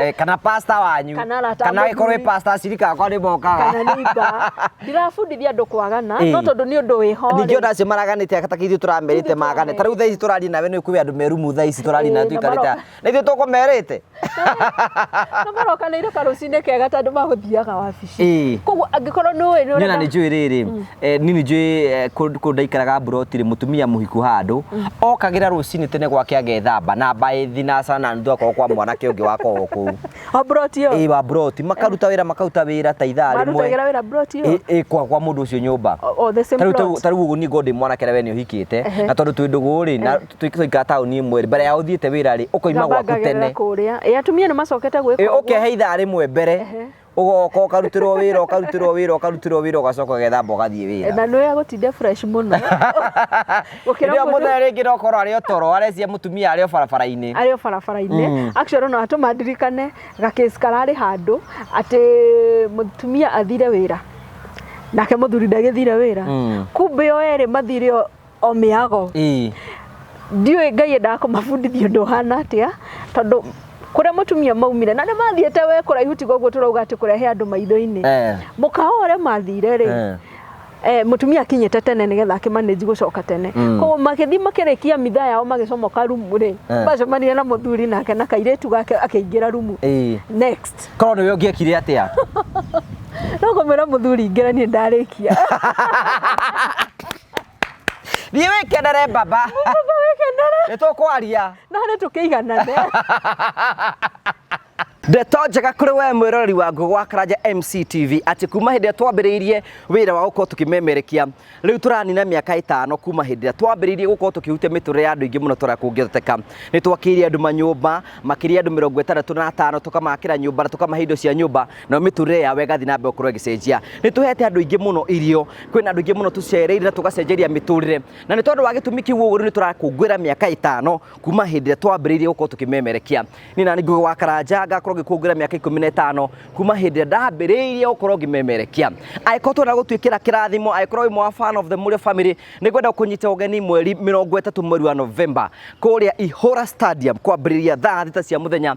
Eh, kana pasta wanyu Kana arata kana mũthuri. ĩkorwo ĩ pasta acirika akwa nĩ mokaga kana neiba ndirabundithia andå kwagana Ĩĩ. no tondå nä å ndå wä ho ningĩ ona acio maraganĩte atakĩ ithuĩ tũramerĩte Ithuĩ magane tũramerĩte. ta rĩu thaa ici tũraria nawe nĩ kwĩ andå merumu thaa ici tũraria Ĩĩ, nawe na tũikarĩte maroka. na ithuĩ tũkũmerĩte na marokanä ire karå cinä kega tandå magå thiaga wabici Ĩĩ. koguo angä korwo nä å ä nä nä ona nä njå ä rä rä Eh, nini njui eh, kũ- kũndũ ndaikaraga mburoti rĩ mũtumia mũhiku handũ okagĩra rũcinĩ tene gwake agethamba na mbaĩ thinacara na nuthu akorwo kwa mwanake ũngĩ wakorwo kũu o broti ĩyo ĩ wa mburoti makaruta wĩra makaruta wĩra ta ithaa rĩmwe marutagĩra wĩra broti ĩyo Ĩ- ĩ kwa kwa mũndũ ũcio nyũmba O- o the same plot. tarä u niä ngondä mwanake rä we nä å hikite na tondå twä ndå gå rä na twaikara taåni ä mwe rä mbere ya å thiä te wä ra rä å kaima gwaku Ngambangagĩrĩra tene kũrĩa Ĩ, atumia nä macokete gwä Ĩ, å kehe ithaa rä mwe mbere ũgoka ũkarutĩrwo wĩra ũkarutĩrwo wĩra ũkarutĩrwo wĩra ũgacoka ũgethamba ũgathiĩ wĩra na nä agåtinde fresh må no Gũkĩra kĩrĩa mũndũ- mũthenya rĩngĩ no korwo arĩ otoro arecia mũtumia arĩ o barabara-inĩ arä o barabara-inä actually no atå mandirikane gakĩci kararä handå atä må tumia athire wä ra nake må thuri ndagä thire wä ra Mm. kumbä o erä mathire o o mĩago ĩĩ ndiũĩ ngai endaga kũmabundithia ũndũ ũhana atĩa tondũ kũrĩa mũtumia maumire na nĩ mathiĩte we kũraihu tiga ũguo tũrauga atĩ kũrehe andũ maitho-inĩ eh mũkawa ũrĩa mathire rĩ eh eh, mũtumia akinyĩte tene nĩgetha akĩmanĩji gũcoka tene Mm. koguo magĩthiĩ makĩrĩkia mitha yao magĩcomoka rumu rĩ Eh. macemanire na mũthuri nake na kairĩtu gake akĩingĩra rumu ĩĩ next korwo nĩwe ũngĩekire atĩa no kũmwĩra mũthuri ingĩra niĩ ndarĩkia thiĩ wĩkenere baba nĩ tũkwaria na nĩ tũkĩiganane ndeto njega kũrĩ we mwĩroreri wa ngũgwa karanja mctv atĩ kuma hĩndĩ ĩrĩa twambĩrĩirie wĩra wa gũkorwo tũkĩmemerekia rĩu tũranina mĩaka ĩtano kuma hĩndĩ ĩrĩa twambĩrĩirie gũkorwo tũkĩhutia mĩtũrĩre ya andũ aingĩ mũno tũrĩa kũngĩhoteka nĩ twakĩire andũ manyũmba makĩria andũ mĩrongo ĩtandatũ na atano tũkamakĩra nyũmba na tũkamahe indo cia nyũmba na mĩtũrĩre yao ĩgathiĩ na mbere gũkorwo ĩgĩcenjia nĩ tũhete andũ aingĩ mũno irio kwĩna andũ aingĩ mũno tũcereire na tũgacenjeria mĩtũrĩre na nĩ tondũ wa gĩtũmi kĩu ũguo rĩu nĩ tũrakũngũĩra mĩaka ĩtano kuma hĩndĩ ĩrĩa twambĩrĩirie gũkorwo tũkĩmemerekia niĩ na ningĩ wa karanja ngakorwo ngĩkũngũĩra mĩaka ikũmi na ĩtano kuma hĩndĩ ĩrĩa ndambĩrĩirie gũkorwo ngĩmemerekia angĩkorwo twenda gũtuĩkĩra kĩrathimo angĩkorwo wĩ mwa fan of the Mũrĩo family nĩ ngwenda kũnyita ũgeni mweri mĩrongo ĩtatũ mweri wa November kũrĩa Ihũra Stadium kwambĩrĩria thaa thita cia mũthenya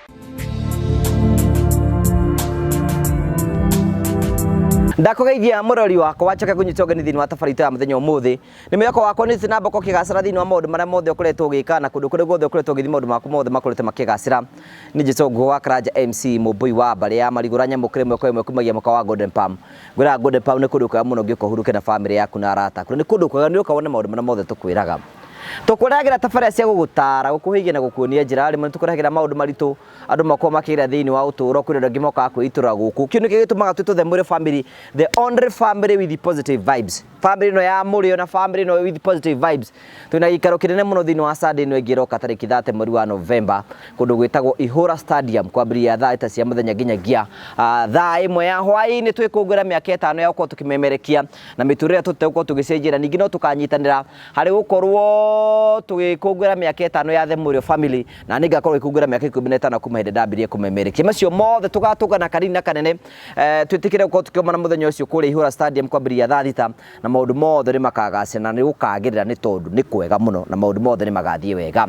ndakugeithia murori wakwa wacoke kunyita ũgeni thĩinĩ wa tabarĩto ya mũthenya ũmũthĩ nĩ mwĩhoko wakwa nĩ na mboko kĩgacĩra thĩinĩ wa maũndũ marĩa mothe ũkoretwo ũgĩka na kũndũ kũrĩa guothe ũkoretwo ũgĩthiĩ maũndũ maku mothe makoretwo makĩgacĩra nĩ jesu nguo wa karanja mc mũmbũi wa mbarĩ ya marigũra nyamũkĩre mweko ĩmwe kumagia mũka wa golden palm ngwĩra golden palm nĩ kũndũ kwega mũno ũngĩũka ũhurũke na bamĩrĩ yaku na arata aku na nĩ kũndũ kwega nĩ ũka wone maũndũ marĩa mothe tũkwĩraga Tũkũrehagĩra tabarĩra cia gũgũtaara, gũkũhĩgia na gũkuonia njĩra. Rĩmwe nĩ tũkũrehagĩra maũndũ maritũ andũ makoragwo makĩgerera thĩinĩ wa ũtũũro. Kwĩna andũ angĩ mokaga kwĩitũrũra gũkũ. Kĩu nĩkĩo gĩtũmaga twĩtwo The Mũrĩo Family, the only family with positive vibes. Family ĩno ya Mũrĩo na family ĩno with positive vibes. Twĩna gĩikaro kĩnene mũno thĩinĩ wa Sunday ĩno ĩngĩ ĩroka tarĩki thate mweri wa November, kũndũ gwĩtagwo Ihũra Stadium, kwambĩrĩria thaa thita cia mũthenya nginyagia ah, thaa ĩmwe ya hwaĩ-inĩ twĩkũngũĩra mĩaka ĩtano ya gũkorwo tũkĩmemerekia na mĩtũrĩre ĩrĩa tũtegũkorwo tũgĩcenjia, na ningĩ no tũkanyitanĩra Harĩ gũkorwo tũgĩkũngũĩra mĩaka ĩtano ya The Mũrĩo Family, na niĩ ngakorwo ngĩkũngũĩra mĩaka ikũmi na ĩtano kuma hĩndĩ ndambirie kũmemerekia. Macio mothe tũgatũngana kanini na kanene, eh, twĩtĩkĩre gũkorwo tũkĩonana mũthenya ũcio kũrĩa Ihũra Stadium kwambĩrĩria thaa thita, na maũndũ mothe nĩ makagacĩra na nĩ gũkagĩrĩra nĩ tondũ nĩ kwega mũno na maũndũ mothe nĩ magathiĩ wega.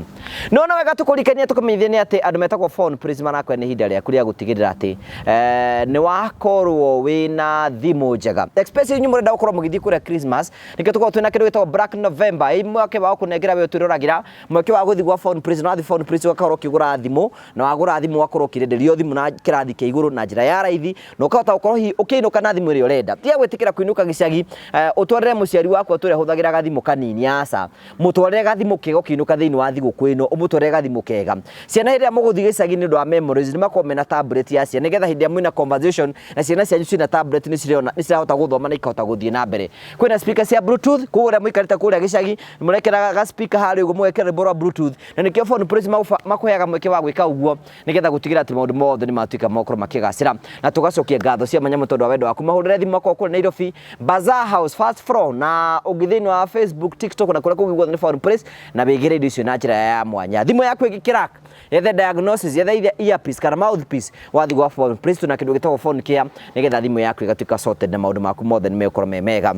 No nĩ wega tũkũririkanie na tũkũmenyithie nĩ atĩ andũ metagwo Phone Prince marakwĩra nĩ ihinda rĩaku rĩa gũtigĩrĩra atĩ, eh, nĩ wakorwo wĩna thimũ njega. Especially inyuĩ mũrenda gũkorwo mũgĩthiĩ kũrĩa Christmas, nĩkĩo tũkoragwo twĩna kĩndũ gĩtagwo black november ĩ mweke wa kũnengera we ũtwĩroragira mweke wa gũthiĩ gwa phone prison ũrathiĩ phone prison ũgakorwo ũkĩgũra thimũ na wagũra thimũ ũgakorwo ũkĩrenderio thimũ na kĩrathi kĩa igũrũ na njĩra ya raithi na ũkahota gũkorwo hihi ũkĩinũka na thimũ ĩrĩa ũrenda tiga gwĩtĩkĩra kũinũka gĩcagi eh, ũtwarĩre mũciari waku atũrĩa hũthagĩra gathimũ kanini aca Mũtwarĩre gathimũ kega ũkĩinũka thĩinĩ wa thigũkũ ĩno, ũmũtwarĩre gathimũ kega. Ciana hĩndĩ ĩrĩa mũgũthiĩ gĩcagi nĩ ũndũ wa memories nĩ makorwo mena tablet ya ciana nĩgetha hĩndĩ ĩrĩa mwĩna conversation na ciana cianyu ciĩna tablet nĩ cirĩona nĩ cirahota gũthoma na ikahota gũthiĩ na mbere. Kwĩna speaker cia bluetooth koguo arĩa mũikarĩte kũrĩa gĩcagi mũrekĩra ga speaker harĩa ũguo mũgekĩra rwĩmbo rwa bluetooth na nĩkĩo Phone Praise makũheaga mweke wa gwĩka ũguo. nĩgetha gũtigĩra atĩ maũndũ mothe nĩ matuĩka makorwo makĩgacĩra na tũgacokia ngatho cia manyamũ tondũ wa wendo waku mahũrĩre thimũ makwa kũrĩ Nairobi Bazaar House first floor na ũngĩ thĩinĩ wa Facebook TikTok na kũrĩa kũngĩ guothe nĩ Found Place na wĩgĩre indo icio na njĩra ya mwanya thimũ yaku ĩngĩkĩrak yethe diagnosis yethe ithe earpiece kana mouthpiece wathiĩ gwa Found Place tuna kĩndũ gĩtagwo phone care nĩgetha thimũ yaku ĩgatuĩka sorted na maũndũ maku mothe nĩ megũkorwo me mega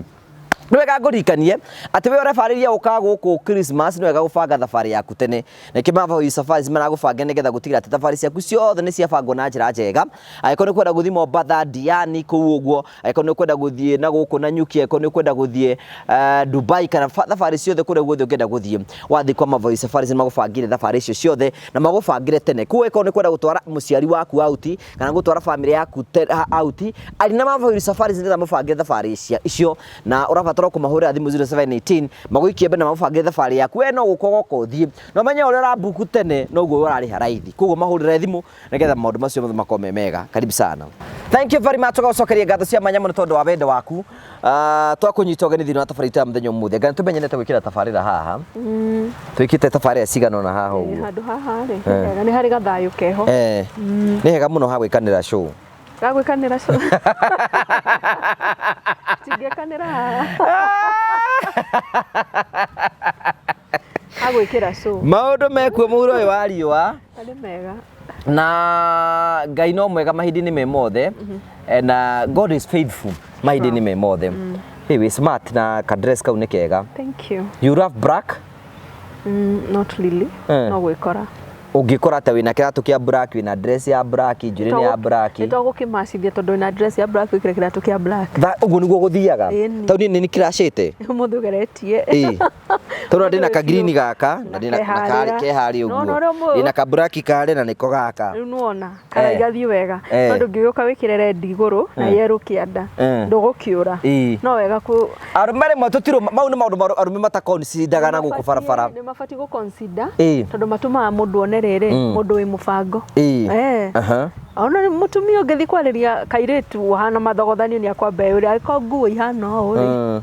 Nĩ wega ngũririkanie atĩ wĩ ũrebarĩria gũka gũkũ Christmas nĩ wega gũbanga thabarĩ yaku tene. Nĩkĩ Mavoi Safaris maragũbange nĩgetha gũtigĩrĩra atĩ thabarĩ ciaku ciothe nĩ ciabangwo na njĩra njega. Angĩkorwo nĩ kwenda gũthiĩ Mombatha, Diani kũu ũguo, angĩkorwo nĩ kwenda gũthiĩ na gũkũ na Nyuki, angĩkorwo nĩ kwenda gũthiĩ eh, Dubai kana fa- thabarĩ ciothe kũrĩa guothe ũngĩenda gũthiĩ, wathiĩ kwa Mavoi Safaris nĩ magũbangĩire thabarĩ icio ciothe na magũbangĩre tene. Koguo angĩkorwo nĩ kwenda gũtwara mũciari waku out, kana gũtwara famĩlĩ yaku te- ha- out arĩ na mabũri safari nĩgetha mũbange thabarĩ cia- icio na ũrabatara kũmahũrĩra thimũ 0718 magũikie mbere na magũbange thabarĩ yaku we no gũka ũgoka ũthiĩ na ũmenye ũrĩa ũrambuku tene noguo ũrarĩha raithi koguo mahũrĩre thimũ nĩgetha maũndũ macio mothe makorwo me mega karibu sana thank you very much ũgacokeria ngatho cia mwanya mũno tondũ wa wendo waku Ah, twakũnyita ũgeni thĩinĩ wa tabarĩra itũ ya mũthenya ũmũthĩ ngai tũmenyenete gwĩkĩra tabarĩra haha Mm, twĩkĩte tabarĩra cigana ũna haha eh, ũguo handũ haha rĩ Eh. wega, nĩ harĩ gathayũ keho Eh, nĩ hega mũno ha gwĩkanĩra show gagwĩkanĩra cũ tingĩkanĩra haha Agwĩkĩra cũ. Maũndũ mekuo mũhuro ũyũ wa riũa. Arĩ mega. Na Ngai no mwega mahinda-inĩ me mothe. Mhm. Eh, na God is faithful mahinda-inĩ me mothe. Mm. Hey, we smart na ka dress kau nĩ kega. Thank you. You love black? Mm, not really. Eh. No gwĩkora ũngĩkora ta wĩna kiratũ kia black wĩna dress ya black njuĩrĩ nĩ ya black nĩ tũgũkĩmacithia tondũ wĩna dress ya black wĩkĩre kiratũ kia black ũguo nĩguo gũthiaga tondũ niĩ nĩ kĩracĩte mũndũ ũgeretie Tũrĩa ndĩ na ka green gaka na ndĩ na Keharĩra. karĩ keharĩ Nona ũguo. ũrĩa ũmũ- Ndĩ na ka black karĩ na nĩko gaka. rĩu nĩwona Eh. karaigathiĩ wega Eh. tondũ ngĩgĩũka wĩkĩre red igũrũ na Eh. yerũ kĩanda Eh. ndũgũkĩũra Ii. no wega kũ Arũme rĩmwe tũtirũ mau nĩ maũndũ maru- arũme matakonsidaga na gũkũ barabara. nĩ mabatiĩ gũ consider Ii. tondũ matũmaga mũndũ one rĩrĩ Mm. mũndũ wĩ mũbango Ii. Eh. Aha. ona nĩ mũtumia ũngĩthiĩ kwarĩria kairĩtu ũhana mathogothanio nĩ akwamba ũrĩa agĩkorwo nguo ihana ũũ rĩ Mm.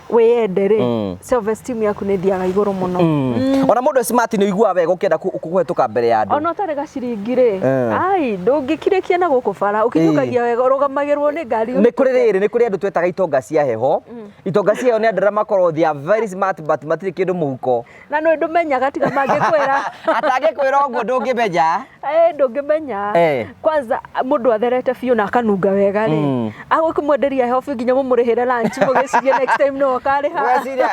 wĩyende rĩ Mm. self esteem yaku nĩ thiaga igũrũ mũno Mm. ona mũndũ e smart nĩ ũiguaga wega ũkĩenda kũ- kũhĩtũka mbere ya andũ ona ũtarĩ gaciringi rĩ Eh. ai ndũngĩkirĩkia na gũkũ bara ũkinyũkagia wega ũrũgamagĩrwo nĩ ngari nĩ kũrĩ rĩrĩ nĩ kũrĩ andũ twetaga itonga cia heho itonga cia heho nĩ andũ arĩa makorwo they are very smart but matirĩ kĩndũ mũhuko na nä ndå menyaga tiga mangä kwä ra atangä kwä ra å guo ndå ngä menya ndå ngä menya Eh. kwanza må ndå atherete biå na akanunga wega rä Mm. agå kä mwenderia heho biå nginya må må rä hä re må gä cirie next time nä okarä ha weciria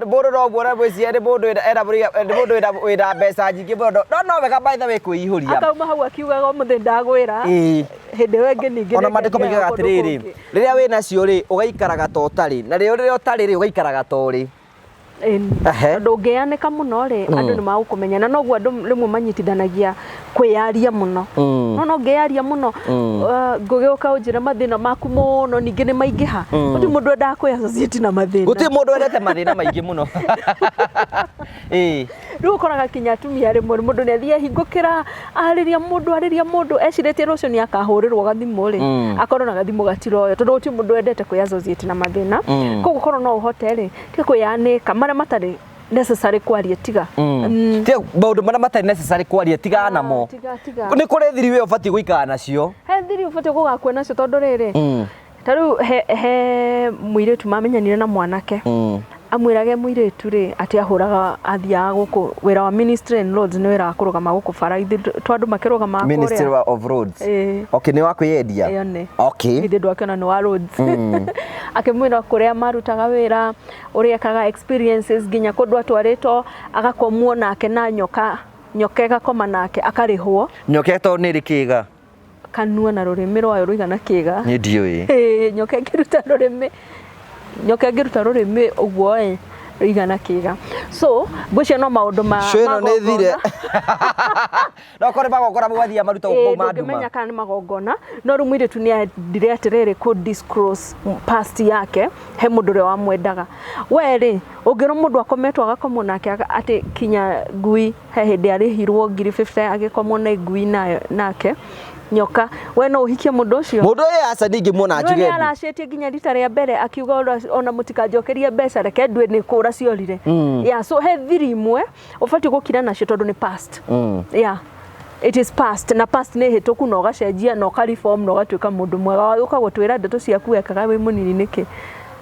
må ndå no guo gwĩciria nĩ mũndũ wĩna- ena mũriga- nĩ mũndũ wĩna- wĩna mbeca nyingĩ mũno no no wega maitha wĩ kwĩ ihũria akauma hau akiugaga må thä ndagwä ra Ĩĩ. hä ndä ä yo ä ngä ningä ona mandĩko maigaga atĩrĩrĩ rĩrĩa wĩ nacio rĩ ũgaikaraga ta ũtarĩ na rĩo rĩrĩa ũtarĩ rĩ ũgaikaraga ta ũrĩ Ĩni. Ehe. Tondũ ũngĩyanĩka mũno rĩ, andũ nĩ magũkũmenya na noguo andũ rĩmwe manyitithanagia kwĩyaria mũno. No no ngĩyaria mũno uh, ngũgĩũka ũnjĩre mathĩna maku mũno ningĩ nĩ maingĩha. Gũtirĩ mũndũ endaga kwĩ associate na mathĩna. Gũtirĩ mũndũ endete mathĩna maingĩ mũno. Ĩĩ. Rĩu ũkoraga nginya atumia rĩmwe mũndũ nĩ athiĩ ehingũkĩra, arĩria mũndũ, arĩria mũndũ, ecirĩtie rũciũ nĩ akahũrĩrwo gathimũ rĩ, akorwo na gathimũ gatiroywo tondũ gũtirĩ mũndũ wendete kwĩ associate na mathĩna. Kũguo korwo no ũhote rĩ, tiga kwĩyanĩka marĩa matarĩ necessary kwaria tiga. Tiga maũndũ marĩa matarĩ necessary kwaria tigana namo. Tiga, tiga. Nĩ kũrĩ thiri we ũbatiĩ gũikara nacio. He thiri ũbatiĩ gũgakua nacio tondũ rĩrĩ, ta rĩu he, he mũirĩtu mamenyanire na mwanake mm. amwĩrage mũirĩtu rĩ atĩ ahũraga athiaga gũkũ wĩra wa ministry and roads nĩ wĩra wa kũrũgama gũkũ bara ithe twa andũ makĩrũgama ministry wa of roads Eh. okay nĩ wa kwĩyendia Ĩyo nĩ. okay ithe ndũ akĩona nĩ wa roads akĩmwĩra kũrĩa marutaga wĩra ũrĩa ekaga experiences nginya kũndũ atwarĩtwo agakomwo nake na nyoka nyoka ĩgakoma nake akarĩhwo nyoketo nĩ rĩkĩga kanua na rũrĩmĩ rwayo rũigana kĩga nĩ ndiũĩ Ĩĩ, nyoka ĩngĩruta rũrĩmĩ nyoka ĩngĩruta rũrĩmĩ ũguo ĩ rũigana kĩga so ngwĩciria no maũndũ ma Show ĩno nĩ thire magongona. no korwo magongona mwathiĩ maruta Ĩĩ, mau ma nduma ndũngĩmenya kana nĩ magongona no rĩu mũirĩtu nĩ endire atĩrĩrĩ kũ disclose past yake he mũndũ ũrĩa wamwendaga we rĩ ũngĩrwo mũndũ akometwo agakomwo nake aga- atĩ kinya ngui He hĩndĩ arĩhirwo ngiri 50 agĩkomwo na ngui nayo nake nyoka we no uhikie mundu ucio mundu uyu aca ndingĩmuona njuge njuge aracetie nginya rita rĩa mbere akiuga ona- ona mũtikanjokerie mbeca reke ndue nĩ kũra ciorire yeah, so he thiri imwe ũbatiĩ gũkira nacio tondũ nĩ past yeah. It is past na past nĩ hĩtũku na ũgacenjia na ũkareform na ũgatuĩka mũndũ mwega ũka gũtwĩra ndeto ciaku wekaga wĩ mũnini nĩkĩ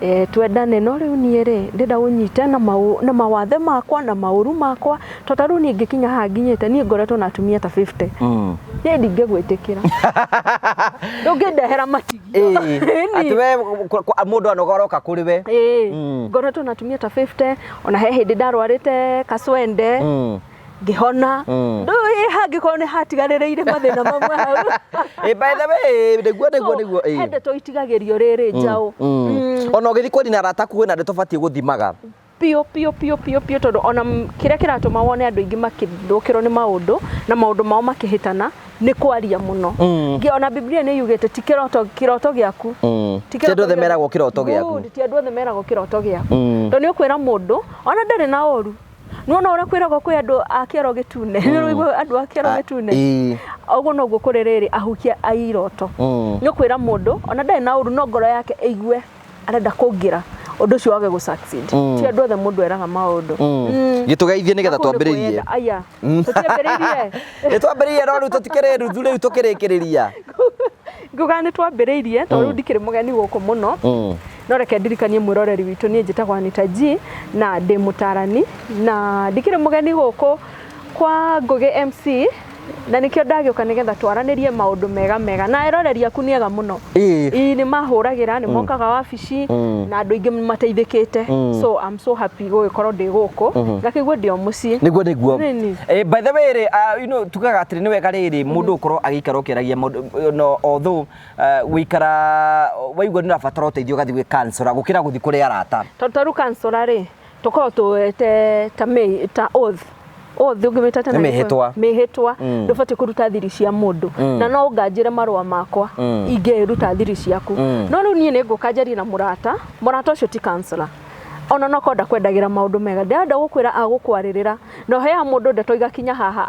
e, twendane no rĩu niĩ rĩ ndĩrenda ũnyite na, mau, na mawathe makwa na maũru makwa to ta rĩu niĩ ngĩkinya haha nginyĩte niĩ ngoretwo na atumia ta 50 mm. niĩ ndingĩgwĩtĩkĩra ndũngĩndehera matigio atĩ we mũndũ anoga aroka kũrĩ we mm. ngoretwo na atumia ta 50 ona he hĩndĩ ndarwarĩte kacwende mm. ngĩhona Mm. ndå ä hangä korwo nä hatigarä rä ire mathä na mamwe hau Eh, by the way nĩguo nĩguo nĩguo eh. he ndeto itigagä rio rä rä njaå Mm. ona ũgĩthiĩ kwaria na arata aku wĩna ndeto batiĩ gũthimaga biå biå biå biå biå tondå ona m- kĩrĩa kĩratũma wone andå aingĩ makĩthũkĩrwo nĩ maũndũ na maũndũ mao makĩhĩtana nĩ kwaria mũno Mm. Nge- ona biblia nĩ yugĩte ti kĩroto kĩroto gĩaku Mm. Ti Ti andũ othe gĩaku. meragwo kĩroto gĩaku. Good, ti andå othe meragwo kĩroto gĩaku Mm. tondå nä å kwä ra må ndå ona ndarä na å ru Nĩwona ũrĩa kwĩragwo kwĩ andũ a kĩero gĩtune. Mm. Nĩũraigua andũ a kĩero ah, gĩtune. Ũguo noguo kũrĩ rĩrĩ ahukia a iroto. Mm. Nĩ kwĩra mũndũ ona ndarĩ na ũru no ngoro yake ĩigue arenda kũngĩra ũndũ ũcio wage gũ succeed mm. ti andũ othe mũndũ eraga maũndũ mm. mm. gĩtũgeithie nĩgetha twambĩrĩrie aya mm. tũtiambĩrĩirie nĩtwambĩrĩirie no rĩu tũtikĩrĩ ruthu rĩu tũkĩrĩkĩrĩria nguga nĩtwambĩrĩirie tondũ ndikĩrĩ mũgeni gũkũ mũno No reke ndirikanie mwĩroreri witũ niĩ njĩtagwo Anita G na ndĩ mũtarani na ndikĩrĩ mũgeni gũkũ kwa Ngũgĩ MC na nĩkĩo ndagĩũka nĩgetha twaranĩrie maũndũ mega mega na eroreri aku nĩ ega mũno Ĩĩ. Ii nĩ mahũragĩra nĩ mokaga wabici na andũ aingĩ mateithĩkĩte so I'm so happy gũgĩkorwo ndĩ gũkũ ngakĩigua ndĩ o mũciĩ niguo niguo Nini. Eh, by the way rĩ ah, you know, tugaga atĩrĩ nĩ wega rĩrĩ mũndũ gũkorwo agĩikara ũkĩaragia maũndũ no although Eh, gũikara waigua nĩ ũrabatara ũteithio ũgathiĩ gwĩ kansora gũkĩra gũthiĩ kũrĩ arata tondũ ta rĩu kansora rĩ tũkoragwo tũwete ta mĩ- ta oath oath ũngĩmĩta tena Nĩ nĩ mĩhĩtwa. kũ- mĩhĩtwa Mm. ndũbatiĩ kũruta thiri cia mũndũ Mm. na no ũnganjĩre marũa makwa Mm. ingĩruta thiri ciaku Mm. no rĩu niĩ nĩ ngũka njarie na mũrata mũrata ũcio ti kansora ona no kwenda kwendagĩra maũndũ mega ndĩrenda gũkwĩra agũkwarĩrĩra na ũheaga mũndũ ndeto igakinya haha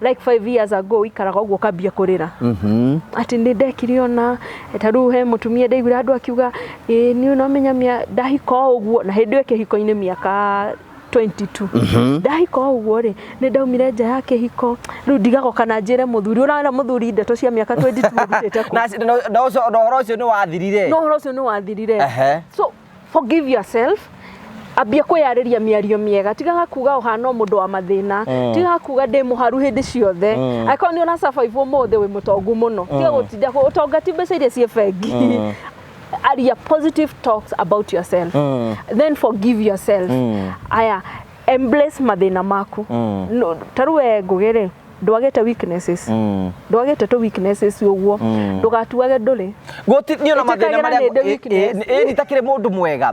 like five years ago wikaraga ũguo ũkambia kũrĩra atĩ nĩ ndekire ona ta rĩu he mũtumia ndaiguire andũ akiuga ĩĩ niĩ no menyamia ndahika o ũguo na hĩndĩ ĩyo kĩhiko-inĩ mĩaka 22 ndahika o ũguo rĩ nĩ ndaumire nja ya kĩhiko rĩu ndigagoka na njĩre mũthuri ũrarera mũthuri ndeto cia mĩaka 22 ũrutĩte kũ na na- na ũcio- na ũhoro ũcio nĩ wathirire no ũhoro ũcio nĩ wathirire Ehe. so forgive yourself ambia kwĩyarĩria mĩario mĩega tigaga kuga ũhana mũndũ wa mathĩna mm. tigaga kuga ndĩ mũharu hĩndĩ ciothe mm. angĩkorwo nĩ ũna survive ũmũthĩ wĩ mũtongu mũno tiga mm. gũtinda ũtonga ti mbeca iria ciĩ bengi mm. aria positive talks about yourself mm. then forgive yourself mm. aya embrace mathĩna maku mm. no, tarĩu we ngũgĩ rĩ ndwagĩte weaknesses mm. ndwagĩte tũ weaknesses ũguo mm. ndũgatuage ndũrĩ gũtirĩ na mathĩna marĩa ĩ nitakĩrĩ mũndũ mwega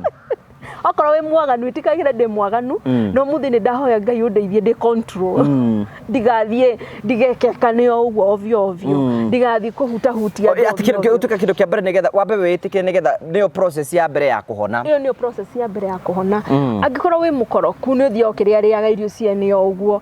okorwo wĩ mwaganu itikagire ndĩ mwaganu mm. no muthi nĩ ndahoya ngai ũndeithie ndĩ control mm. ndigathiĩ ndigekekane o ũguo ovyo ovyo mm. ndigathiĩ kũhutahutia ũtuĩka kĩndũ kĩa mbere nĩgetha wambe wĩtĩkĩre nĩgetha nĩyo process ya mbere ya kũhona ĩyo nĩyo process ya mbere ya kũhona angĩkorwo wĩ mũkoroku nĩ ũthiaga ũkĩrĩarĩaga irio ciene o ũguo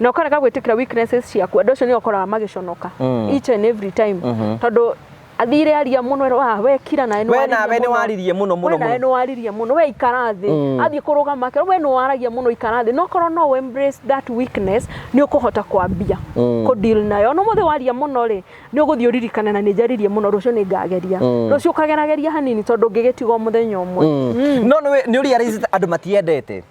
na ũkarega gwĩtĩkĩra weaknesses ciaku andũ acio nĩ ũkoraga magĩconoka Mm. each and every time Mhm. tondũ athire aria mũno ero ah we kira nawe nĩ We waririe nawe nĩ mũno." waririe mũno, mũno, we nawe mũno. nĩ waririe mũno we ikara thĩ Mm. athiĩ kũrũgama akĩra we nĩ waragia mũno ikara thĩ no korwo no we embrace that weakness nĩ ũkũhota kwambia Mm. kũ deal nayo no mũthĩ waria mũno rĩ nĩ ũgũthiĩ ũririkane na nĩ njaririe mũno rũciũ nĩ ngageria Mm. rũciũ ũkagerageria hanini tondũ ngĩgĩtiga o mũthenya ũmwe Mm. no nĩ nĩ ũria andũ matiendete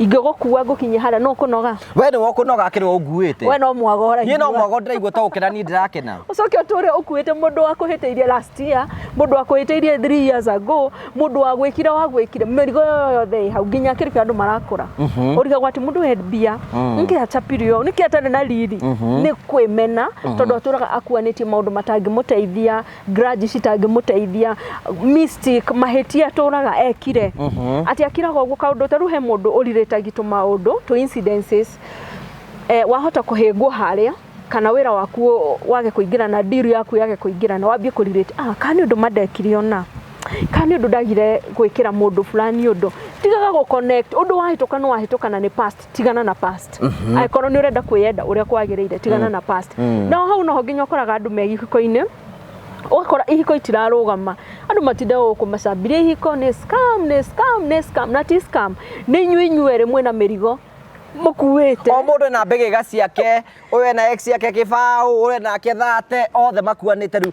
ingĩgũkua ngũkinye harĩa no kũnoga we nĩ wokũnoga akĩrĩ wa ũnguĩte we no mwago ũraigua. niĩ no mwago ndĩraigua ta gũkena niĩ ndĩrakena ucoke ũtũre ũkuĩte mũndũ wakũhĩtĩirie last year mũndũ wakũhĩtĩirie 3 years ago mũndũ wagwĩkire wagwĩkire mĩrigo ĩyo yothe ĩ hau nginya kĩribĩ andũ marakũra Mhm. ũrigagwo atĩ mũndũ we mbia Mm. nĩkĩ achapirio ũũ, nĩkĩ atarĩ na riri nĩ kwĩmena tondũ atũraga akuanĩtie maũndũ matangĩmũteithia grudge citangĩmũteithia mystic mahĩtia atũraga ekire atĩ akiraga ũguo kaũndũ tarĩu he mũndũ ũrirĩtagi tũmaũndũ tũ incidences eh, wahota kũhĩngwo harĩa kana wĩra waku ũ- wage kũingĩrana deal yaku yage kũingĩrana wambie kũrirĩte ah, kana nĩ ũndũ mandekire ona kana nĩ ũndũ ndagire gwĩkĩra mũndũ fulani ũndũ tigaga gũ connect ũndũ wahĩtũka nĩ wahĩtũka na nĩ past tigana na past mhm. angĩkorwo nĩ ũrenda kwĩyenda ũrĩa kwagĩrĩire tigana mm. na past mm. no hau noho nginya ũkoraga andũ me gĩko-inĩ ũgakora ihiko itirarũgama andũ matinda gũkũ macambirie ihiko nĩ scam nĩ scam nĩ scam na ti scam nĩ inyuĩ inyuĩ rĩmwe na mĩrigo mukuite o mundu na mbege ga ciake uyu na ex yake kibaũ uyu nake thate othe makuanite riu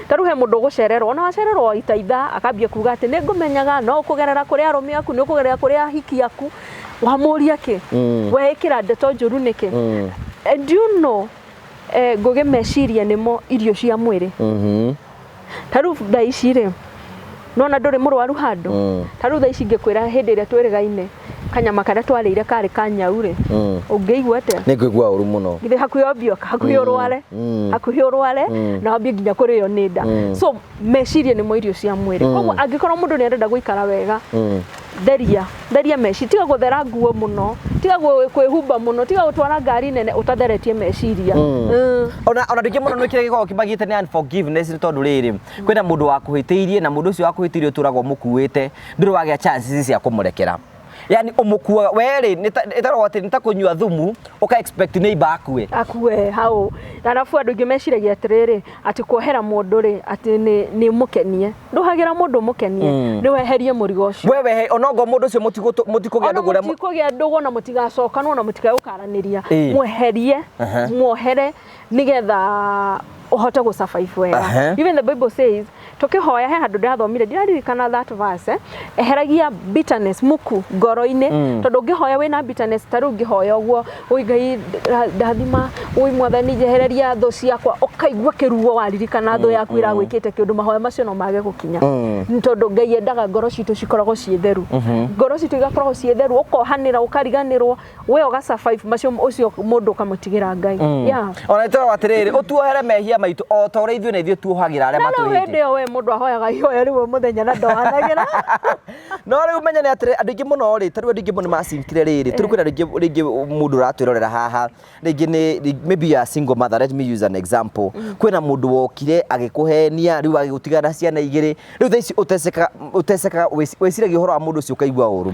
Tarĩu he mũndũ ũgũcererwo, ona wacererwo waita ithaa, akambia kuga atĩ nĩ ngũmenyaga, no kũgerera kũrĩ arũme aku, nĩ ũkũgerera kũrĩ ahiki aku, wamũria kĩ? Mm. We ĩkĩra ndeto njũru nĩkĩ? Mm. And do you know, eh, ngũgĩ meciria nĩmo irio cia mwĩrĩ. Mm -hmm. Tarĩu thaa ici rĩ, nona ndũrĩ mũrwaru handũ mm. ta rĩu thaa ici ingĩkwĩra hĩndĩ ĩrĩa twĩrĩgaine kanyama karĩa twarĩire karĩ ka nyau rĩ mm. ũngĩigua atĩa nĩ ngũigua ũru mũno githĩ hakuhĩ ombio hakuhĩ mm. ũrware mm. hakuhĩ ũrware mm. na wambie nginya kũrĩo nĩ nda mm. so meciria nĩmo irio cia mwĩrĩ mm. koguo angĩkorwo mũndũ nĩ arenda gũikara wega mm theria theria meci tiga guthera nguo muno tiga kwihumba muno tiga gutwara ngari nene utatheretie meciria mm. mm. ona ona ndingi muno nä kä rä gä koragwo kä magä te nä unforgiveness nä tondå rä rä kwĩna mũndũ wakuhĩtĩirie na mũndũ ũcio wakuhĩtĩirie ũtũraga ũmũkuĩte ndũrĩ wagĩa chances cia kũmũrekera yani ũmũkuaga werĩ ĩtarwo atĩ nĩ ta kũnyua thumu ũka expect neighbor akue akue hau arabu andũ aingĩ meciragia atĩrĩrĩ atĩ kuohera mũndũ rĩ atĩ nĩ mũkenie ndũhagĩra mũndũ mũkenie mm. nĩ weherie mũrigo ũcio we wehe onongo mũndũ ũcio mũtikũgĩa ndũgũ mũtikũgĩa ndũgũ na mũtigacokanwo na mũtigagũkaranĩria mweherie muohere nigetha uhote gå survive wega uh -huh. even the bible says tukihoya he handu ndathomire ndiraririkana that verse eheragia bitterness muku ngoro-inĩ mm. tondu ngihoya wina bitterness ta riu ngihoya uguo ui ngai ndathima ui mwathani njehereria tho ciakwa ukaigua kiruo waririkana tho mm, yaku mm. iragwikite kiundu mahoya macio no mage gukinya mm. tondu ngai endaga ngoro citu cikoragwo ciĩ theru mm-hmm. ngoro citu igakoragwo ciĩ theru ukohanira ukariganirwo we ũga survive macio ũcio mũndũ ũkamũtigĩra ngai mm. yeah. ona toro atiriri utuohere mehia maitũ o ta ũrĩa ithuĩ na ithuĩ tuohagĩra arĩa matwĩhĩtie no hĩndĩ ĩyo we mũndũ ahoyaga ihoya rĩu mũthenya na ndohanagĩra no rĩu menya nĩ atĩrĩ andũ aingĩ mũno rĩ tarĩu andũ aingĩ mũno macinkire rĩrĩ tarĩu kwĩna rĩngĩ rĩngĩ mũndũ ũratwĩrorera haha rĩngĩ nĩ maybe you are single mother let me use an example mm. kwĩna mũndũ wokire agĩkũhenia rĩu agĩgũtigana ciana igĩrĩ rĩu thaa ici ũtecekaga ũtecekaga wĩciragia ũhoro wa mũndũ ũcio ũkaigua ũru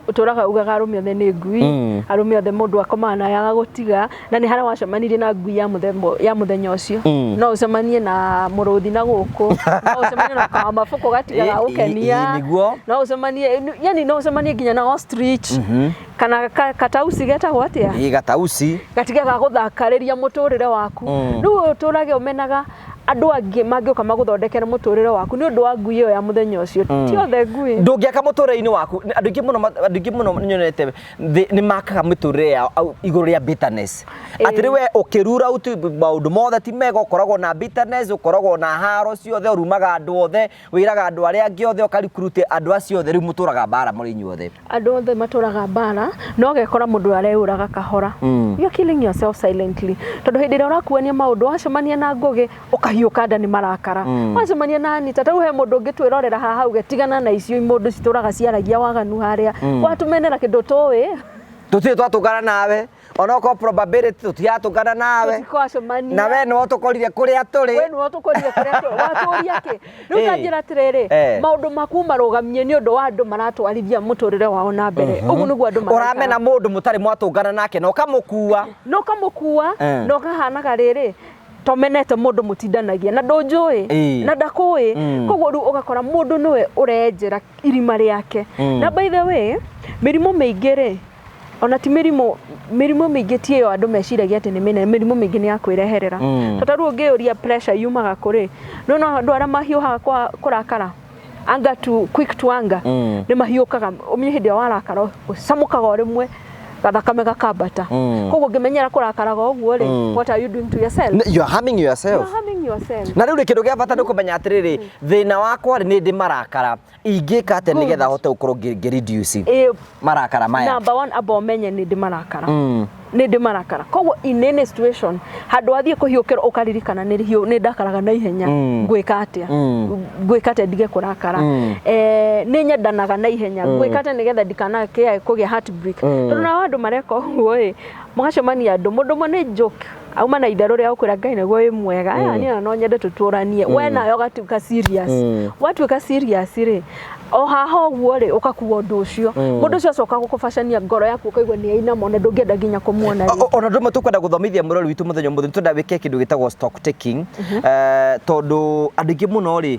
ũtũraga ugaga arũme othe nĩ ngui mm. arũme othe mũndũ akomaga na yaga gũtiga na nĩ harĩa wacemanirie na ngui ya mũthembo ya mũthenya ũcio mm. no ũcemanie na mũrũthi na gũkũ no ũcemanie na kawa mabuku gatiga ga gũkenia no ũcemanie yani no ũcemanie nginya na ostrich mm -hmm. kana ka, katausi getagwo atĩa gatausi gatiga ga gũthakarĩria mũtũrĩre waku mm. rĩu ũtũrage ũmenaga andũ angĩ mangĩũka magũthondekere mũtũrĩre waku nĩ ũndũ wa ngui ĩyo ya mũthenya ũcio mm. ti othe ngui ndũngĩaka mũtũrĩre-inĩ waku andũ aingĩ mũno andũ aingĩ mũno nyonete nĩ makaga mĩtũrĩre yao igũrũ rĩa bitterness atĩ rĩwe ũkĩrura maũndũ mothe ti mega ũkoragwo na bitterness ũkoragwo na haro ciothe ũrumaga andũ othe Wĩraga andũ arĩa angĩ othe ũkarikurute andũ acio othe, rĩu mũtũraga mbaara mũrĩ inyuothe. Andũ othe matũraga mbaara na ũgekora mũndũ areyũraga kahora. Mm. You're killing yourself silently. Tondũ hĩndĩ ĩrĩa ũrakuania maũndũ wacemania na ngũgĩ ũkahiũka nda nĩ marakara. Mm. Wacemania na Anita tau he mũndũ ũngĩ twĩrorera haha hau getigana na icio mũndũ citũraga ciaragia waganu harĩa. Mm. Watũmenera kĩndũ tũĩ. Tũtirĩ twatũngana nawe. onokorwo probability tũtiratũngana nawe tũtikwacemania na we nĩwe ũtũkorire kũrĩa tũrĩ we nĩwe ũtũkorire kũrĩa tũ- watũũria kĩ rĩu Eh. tanjĩra atĩrĩrĩ Eh. maũndũ maku marũgamie nĩ ũndũ wa andũ maratwarithia mũtũrĩre wao na mbere ũguo nĩguo andũ maraikara. ũramena mũndũ mũtarĩ mwatũngana nake na ũkamũkua na ũkamũkua Eh. na ũkahanaga rĩrĩ tomenete mũndũ mũtindanagia na ndũnjũĩ Eh. na ndakũĩ Mm. koguo rĩu ũgakora mũndũ nĩwe ũrenjera irima rĩake Mm. na by the way mĩrimũ mĩingĩ rĩ ona ti mĩrimũ mĩrimũ mĩingĩ ti ĩyo andũ meciragia atĩ nĩ mĩnene mĩrimũ mĩingĩ nĩ ya kwĩreherera mm. tata rĩu ũngĩyũria pressure yumaga kũrĩ no no andũ arĩa mahiũhaga kwa kũrakara anger to quick to anger mm. nĩ mahiũkaga ũmenye hĩndĩ ĩyo warakara ũcamũkaga o rĩmwe gathakame gakambata mm. koguo ngĩmenyera kũrakaraga ũguo rĩ mm. what are you doing to yourself you are harming yourself you are harming yourself na rĩu rĩ kĩndũ gĩa bata nĩ kũmenya atĩrĩrĩ mm. thĩna wakwa rĩ nĩ ndĩ marakara ingĩka atĩa nĩgetha hote gũkorwo ngĩ reduce eh, marakara maya number one amba ũmenye nĩ ndĩ marakara mm. nĩ ndĩ marakara koguo in any situation handũ wathiĩ kũhiũkĩrwo ũkaririkana nĩ hiũ nĩ ndakaraga na ihenya mm. ngwĩka atĩa mm. ngwĩka atĩa ndige kũrakara mm. eh, nĩ nyendanaga na ihenya mm. ngwĩka atĩa nĩgetha ndikanakĩae kũgĩa heartbreak mm. tondũ nao andũ mareka ũguo ĩ mũgacemania andũ mũndũ ũmwe nĩ joke auma na itherũ rĩa gũkwĩra ngai naguo wĩ mwega mm. niĩ no nyende tũtũranie mm. we nayo ũgatuĩka serious mm. watuĩka serious rĩ o haha ũguo rĩ ũkakuga ũndũ ũcio mm. mũndũ ũcio acoka gũkũbacania ngoro yaku ũkaigua nĩ ainama ona ndũngĩenda nginya kũmuona ona ndũmwe tũkwenda gũthomithia mũrori witũ mũthenya mũthenya tũnda wĩke kĩndũ gĩtagwo stock taking mm-hmm. eh, tondũ andũ aingĩ mũno rĩ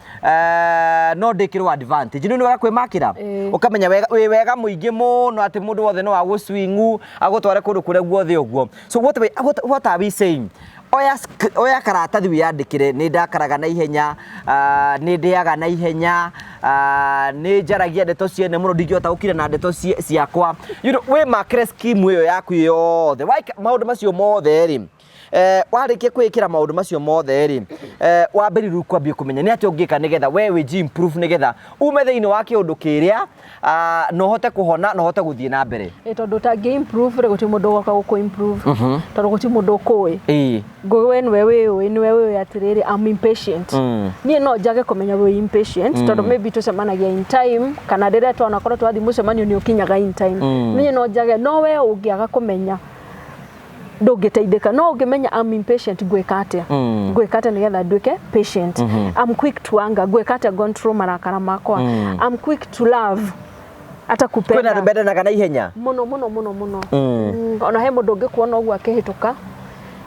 eh, no ndĩkĩrwo advantage nĩ wega kwĩmakĩra Ĩĩ. ũkamenya wega- wĩ wega mũingĩ mũno atĩ mũndũ wothe no agũcwingu agũtware kũndũ kũrĩa guothe ũguo so what, we- what, what are we saying oya, sk- oya karatathi wĩyandĩkĩre nĩ ndakaraga na ihenya ah, nĩ ndĩaga na ihenya ah, nĩ njaragia ndeto ciene mũno ndingĩhota gũkira na ndeto cie- ciakwa you know, wĩmakĩre skimu ĩyo yaku yothe Waika- maũndũ macio mothe rĩ Eh, warĩkia kwĩkĩra maũndũ macio mothe rĩ eh, wambĩrĩru kwambia kũmenya nĩ atĩa ũngĩka nĩgetha we wĩji improve nĩgetha ume thĩinĩ wa kĩũndũ kĩrĩa ah, na ũhote kũhona na ũhote gũthiĩ na mbere Ĩ, tondũ ũtangĩ improve rĩ gũtirĩ mũndũ ũgoka gũkũ improve tondũ gũtirĩ mũndũ ũkũĩ Ĩĩ. ngũĩ we nĩwe wĩũĩ nĩwe wĩũĩ atĩrĩrĩ I'm impatient Mm. niĩ no njage kũmenya wĩ impatient tondũ maybe tũcemanagia in time kana rĩrĩa twana korwo twathiĩ mũcemanio nĩ ũkinyaga in time niĩ no njage no we ũngĩaga kũmenya ndũngĩteithĩka no ũngĩmenya I'm impatient ngwĩka atĩa mm. ngwĩka atĩa nĩgetha nduĩke patient mm -hmm. I'm quick to anger ngwĩka atĩa control marakara makwa mm. I'm quick to love ata kupenda kwina rubendanaga na ihenya muno muno muno muno mm. mm. ona he mundu ngikuona uguo akihituka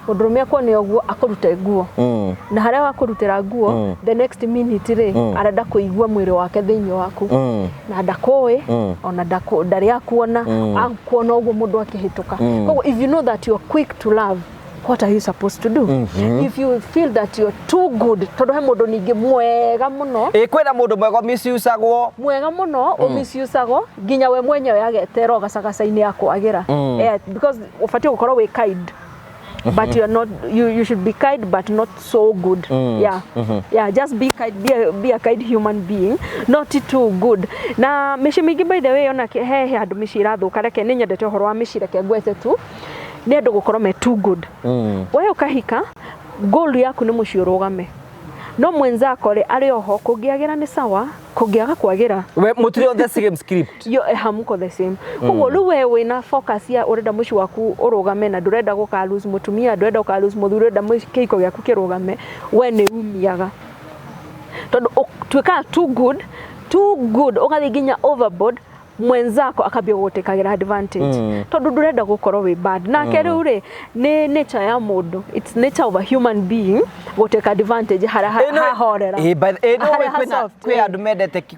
mundurume akuone uguo akurute nguo mm. na haria wakurutira nguo mm. the next minute ri mm. arenda kuigua mwiri wake thiini waku mm. na ndakũĩ mm. ona ndaku, ndarĩ akuona mm. akuona ũguo mũndũ akĩhĩtũka mm. koguo if you know that you're quick to love what are you supposed to do mm -hmm. if you feel that you're too good tondu he mundu ningi mwega muno e kwina mundu mwega misusagwo mwega muno mm. umisusagwo nginya we mwenyewe agetera ugacagacaini ya kwagira mm. yeah, because ubatie gukorwo wi kind but you're not you, you should be kind but not so good yeah yeah just be kind be a, be a kind human being not too good na mĩciĩ mĩingĩ by the way ona ke- he he handũ mĩciĩ ĩrathũka reke nĩ nyendete ũhoro wa mĩciĩ reke ngwete tu nĩ andũ gũkorwo me too good Mm. we ũkahika goal yaku nĩ mũciĩ ũrũgame no mwenzako rĩ arĩ oho kũngĩagĩra nĩ sawa kũngĩaga kwagĩra we mutirĩ on the same script yo eh, hamuko the same koguo rĩu we wĩna focus ya ũrenda mũciĩ waku ũrũgame na ndũrenda gũka lose mũtumia ndũrenda gũka lose mũthuri ũrenda mũci- kĩhiko gĩaku kĩrũgame we nĩ umiaga tondũ ũ- tuĩkaga too good too good ũgathiĩ nginya overboard mwenzako akambia gũgũtĩkagĩra advantage Mm. tondũ ndũrenda gũkorwo wĩ bad nake rĩu rĩ nĩ nature ya mũndũ its nature of a human being gũtĩka advantage harĩa ha- hahorera Eh, by the- eh, no, Harĩa kwĩna- hasoft, kwĩ eh. andũ mendete ki-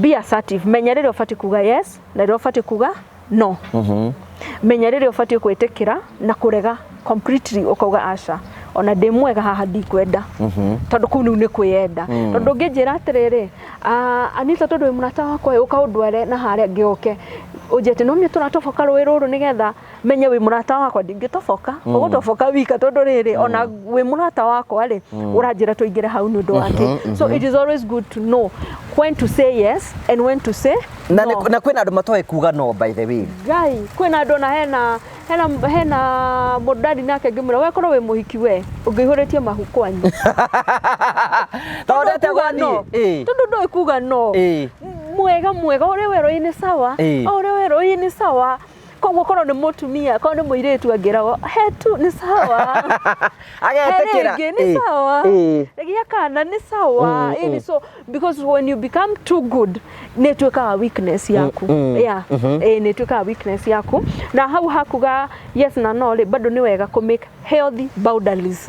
be assertive menya rĩrĩa ũbatiĩ kuga yes na rĩrĩa ũbatiĩ kuga no menya rĩrĩa ũbatiĩ kwĩtĩkĩra na kũrega completely ũkauga aca ona ndĩ mwega haha ndikwenda tondũ kũu nĩu nĩ kwĩyenda tondũ ũngĩnjĩra atĩrĩrĩ "Ah, anita tondũ wĩ mũrata wakwa ĩ, ũka ũndware na harĩa ngĩoke ũnjĩte no mĩtũratoboka rũĩ rũrũ nĩgetha menye wĩ mũrata wakwa ndingĩtoboka mm. ũgũtoboka wika tondũ rĩrĩ mm. ona wĩ mũrata wakwa rĩ mm. ũranjĩra tũingĩre hau nĩ ũndũ mhm, wake mm -hmm. so mhm. it is always good to know when to say yes and when to say na, no. na kwĩna andũ matoĩ kuga no by the way guy kwĩna andũ na hena hena hena mũndũ ndari nake ngĩmwĩra we korwo wĩ mũhiki we ũngĩihũrĩtie mahu kwanyu tondũ kuga no tondũ ndoĩ kuga no mwega mwega ũrĩa werũ-inĩ sawa ũrĩa werũ-inĩ sawa koguo korwo nĩ mũtumia korwo nĩ mũirĩtu angĩragwo he tu nĩ sawa agetikira He rĩngĩ, nĩ sawa gĩa kana nĩ sawa Mm, Ĩĩ, mm. so because when you become too good nĩ ĩtuĩkaga weakness yaku Mm, mm. yeah Mhm. Ĩĩ, nĩ ĩtuĩkaga weakness yaku na hau hakuga yes na no rĩ bado nĩ wega kũ make healthy boundaries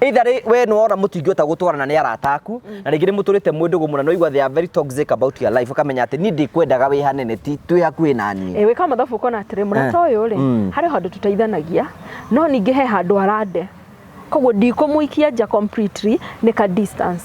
Either rĩ we nĩ wona mũtingĩhota gũtwarana nĩ arata aku mm. na rĩngĩ nĩ mũtũrĩte mwĩ ndũgũ mũno no igua they are very toxic about your life ũkamenya atĩ niĩ ndĩkwendaga wĩ hanene ti twĩ hakuhĩ na niĩ ĩĩ wĩka mathabu ũkona atĩrĩ mũrata eh. ũyũ rĩ mm. harĩ handũ tũteithanagia no ningĩ he handũ arande koguo ndikũmũikia nja completely nĩ ka distance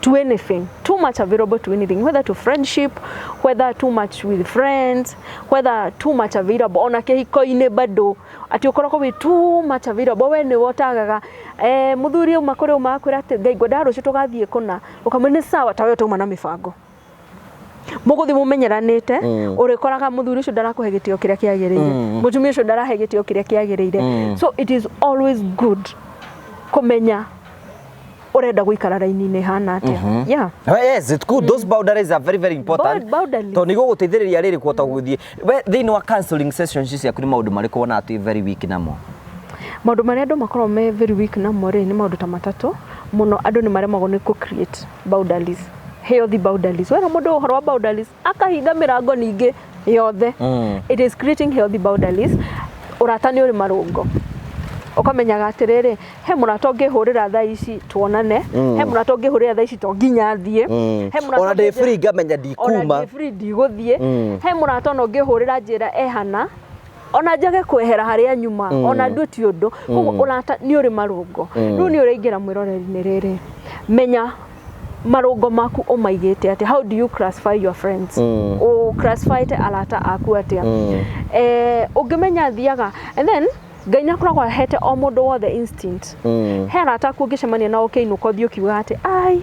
to anything, too much available to anything, whether to friendship, whether too much with friends, whether too much available ona kĩhiko-inĩ bado atĩ ũkoragwo wĩ too much available we nĩwe ũtagaga eh, mũthuri auma kũrĩ ũma akwĩra atĩ ngai ngwendaga rũciũ tũgathiĩ kũna ũkamwĩra nĩ sawa ta we ũtauma na mĩbango mũgũthiĩ mũmenyeranĩte mm. ũrĩkoraga mũthuri ũcio ndarakũhe gĩtĩo kĩrĩa kĩagĩrĩire mm. mũtumia ũcio ndarahe gĩtĩo kĩrĩa kĩagĩrĩire mm. so it is always good kũmenya urenda guikara raini-inĩ hana atia mhm. yeah oh, yes it's good those mm. boundaries are very very important to ni guguteithiriria riri kuota guthie we thiini wa counseling sessions ici akuri maundu mari kuona ati very weak namo maundu mari andu makorwo me very weak namo ri ni maundu ta matatu muno andu ni maremagwo ni ku create boundaries healthy boundaries wera mundu uhoro wa boundaries akahinga mirango ningi yothe mm. it is creating healthy boundaries urata ni uri marungo ukamenyaga atiriri he murata ngihurira tha ici tuonane mm. he murata ngihurira tha ici to nginya thie mm. he murata ona ndi free ngamenya ndikuma ona ndi free ndiguthie mm. he murata no ngihurira njira ehana ona njage kwehera harĩa nyuma mm. ona ndue ti ũndũ koguo mm. ũrata nĩ ũrĩ marũngo mm. rĩu nĩ ũraingĩra mwĩroreri-inĩ rĩrĩ menya marũngo maku ũmaigĩte atĩa how do you classify your friends mm. u classify te arata aku atĩa mm. eh, ũngĩmenya thiaga and then ngai nä akoragwo ahete o må ndå wothe instinct mm. he arata aku å ngä cemania nao kä inå ko thiä å kiuga atä ai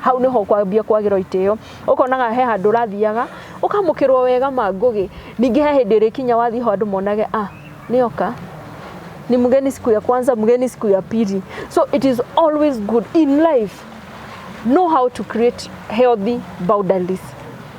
hau nĩho ũkwambia kwagĩrwo itĩo ũkonaga he handũ ũrathiaga ũkamũkĩrwo wega ma ngũgĩ ningĩ he hĩndĩ ĩrĩkinya wathiĩ ho andũ monage a nĩoka ni mgeni siku ya kwanza mgeni siku ya pili so it is always good in life know how to create healthy boundaries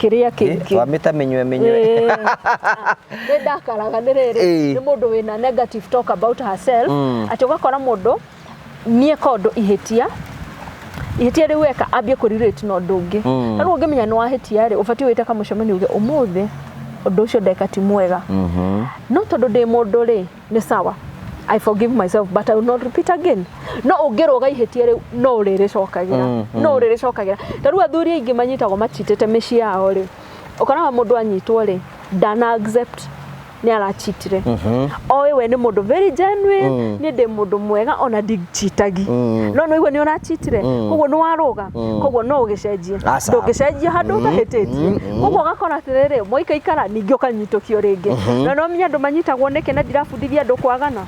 kĩrĩa kĩngĩ twamĩta mĩnywe mĩnywe Ĩĩ. Ah, nĩ ndakaraga nĩ rĩrĩ Ĩĩ. nĩ mũndũ wĩna negative talk about herself Mm. atĩ ũgakora mũndũ niĩ kondũ ihĩtia ihĩtia rĩu weka ambie kũrirĩti na ũndũ ũngĩ Mm. na rĩu ũngĩmenya nĩ wahĩtia rĩ ũbatiĩ wĩte kamũcemanio uge ũmũthĩ ũndũ ũcio ndeka ti mwega Mhm. no tondũ ndĩ mũndũ rĩ nĩ sawa I forgive myself but I will not repeat again no ũngĩrũga ihĩtia rĩu no ũrĩrĩcokagĩra Mm, mm. no ũrĩrĩcokagĩra ta rĩu athuri aingĩ manyitagwo machitĩte mĩciĩ yao rĩ ũkoraga mũndũ anyitwo rĩ ndana accept nĩ arachitire oĩ we nĩ mũndũ very genuine Mm. niĩ ndĩ mũndũ mwega ona ndichitagi Mm. no nĩ ũigua nĩ ũrachitire Mm. koguo nĩ warũga Mm. koguo no ũgĩcenjie Aca. ndũngĩcenjia handũ ũtahĩtĩtie koguo ũgakora atĩrĩrĩ mwaikaikara ningĩ ũkanyi kũhĩtũkio rĩngĩ Mhm. na no menye andũ manyitagwo nĩkĩ na ndirabundithia andũ kwagana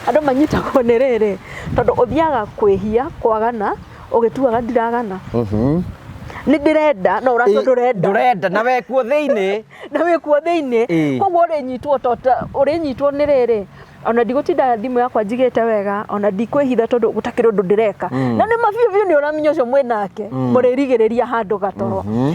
andũ manyitagwo nĩ rĩrĩ tondũ ũthiaga kwĩhia kwagana ũgĩtuaga ndiragana Mhm. nĩ ndĩrenda no ũratua ndũrenda ndurenda na wekuo thĩinĩ na wĩ kuo thĩinĩ Ĩĩ. koguo ũrĩnyitwo tota ũrĩnyitwo nĩ rĩrĩ ona ndigũtinda thimũ yakwa njigĩte wega ona ndikwĩhitha tondũ gũtakĩrĩ ũndũ ndĩreka Mm. na nĩ mabiũ biũ nĩ ũramenya ũcio mwĩ nake Mm. mũrĩrigĩrĩria handũ gatoro Mhm.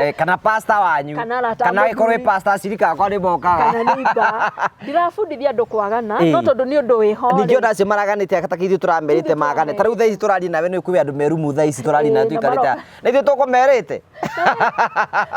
Eh, kana pasta wanyu Kana arata kana mũthuri. ĩkorwo ĩ pasta acirika akwa nĩ mokaga kana neiba ndirabundithia andå kwagana Ĩĩ. no tondå nä å ndå wä ho ningĩ ona acio maraganĩte atakĩ ithuĩ tũramerĩte Ithuĩ magane tũramerĩte. ta rĩu thaa ici tũraria nawe nĩ kwĩ andå merumu thaa ici tũraria nawe Ĩĩ, na tũikarĩte maroka. na ithuĩ tũkũmerĩte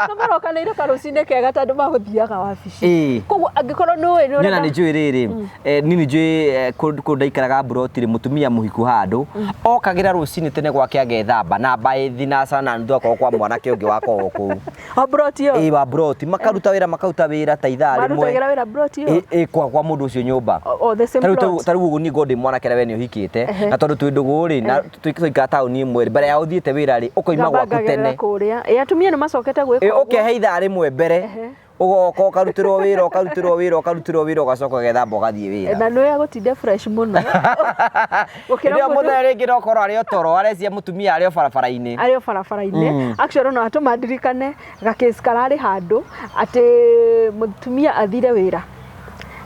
no marokanä ire karå cinä kega tandå magå thiaga wabici Ĩĩ. koguo angä korwo nä å ä nä niona nä njå ä rä rä Eh, nini njui eh, kũ- kũndũ ndaikaraga mburoti rĩ mũtumia mũhiku handũ okagĩra rũcinĩ tene gwake agethamba na mbaĩ thinacara na nuthu akorwo kwa mwanake ũngĩ wakoragwo kũu o broti ĩyo ĩĩ wa mburoti makaruta wĩra makaruta wĩra ta ithaa rĩmwe marutagĩra wĩra broti ĩyo Ĩ- ĩ kwa kwa mũndũ ũcio nyũmba O- o the same Tarĩu ta- plot. tarĩu ũguo niĩ ngorwo ndĩ mwanake rĩa we nĩ ũhikĩte na tondũ twĩ ndũgũ rĩ na tũikara taũni ĩmwe rĩ mbere ya ũthiĩte wĩra rĩ ũkoima gwaku ngambangagĩrĩra tene kũrĩa ĩ atumia nĩ macokete gwĩka Ĩ, ũguo. ũkehe ithaa rĩmwe mbere ũgoka ũkarutĩrwo wĩra ũkarutĩrwo wĩra ũkarutĩrwo wĩra ũgacoka ũgethamba ũgathiĩ wĩra na nä agåtinde fresh må no Hĩndĩ gukira ĩyo mundu mũthenya rĩngĩ nokorwo arĩ otoro arecia mũtumia arĩ o barabara-inĩ arä o barabara-inä actually no atå mandirikane gakĩci kararä handå atä må tumia athire wä ra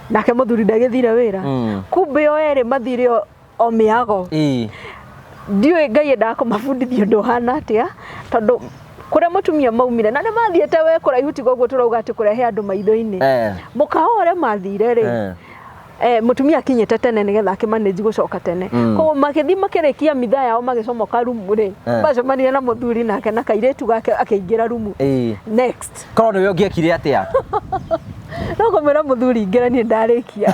nake må thuri ndagä thire wä ra Mm. kumbä o erä mathire o o mĩago Ĩĩ. ndiũĩ ngai endaga kũmabundithia ũndũ ũhana atĩa tondũ kũrĩa mũtumia maumire na nĩ mathiĩte we kũraihu tiga ũguo tũrauga atĩ kũrehe andũ maitho-inĩ Eh. mũkawa ũrĩa mathire rĩ Eh. eh, mũtumia akinyĩte tene nĩgetha akĩmanĩji gũcoka tene Mm. koguo magĩthiĩ makĩrĩkia mitha yao magĩcomoka rumu rĩ Eh. macemanire na mũthuri nake na kairĩtu gake akĩingĩra rumu Ĩĩ. next korwo nĩwe ũngĩekire atĩa no kũmwĩra mũthuri ingĩra niĩ ndarĩkia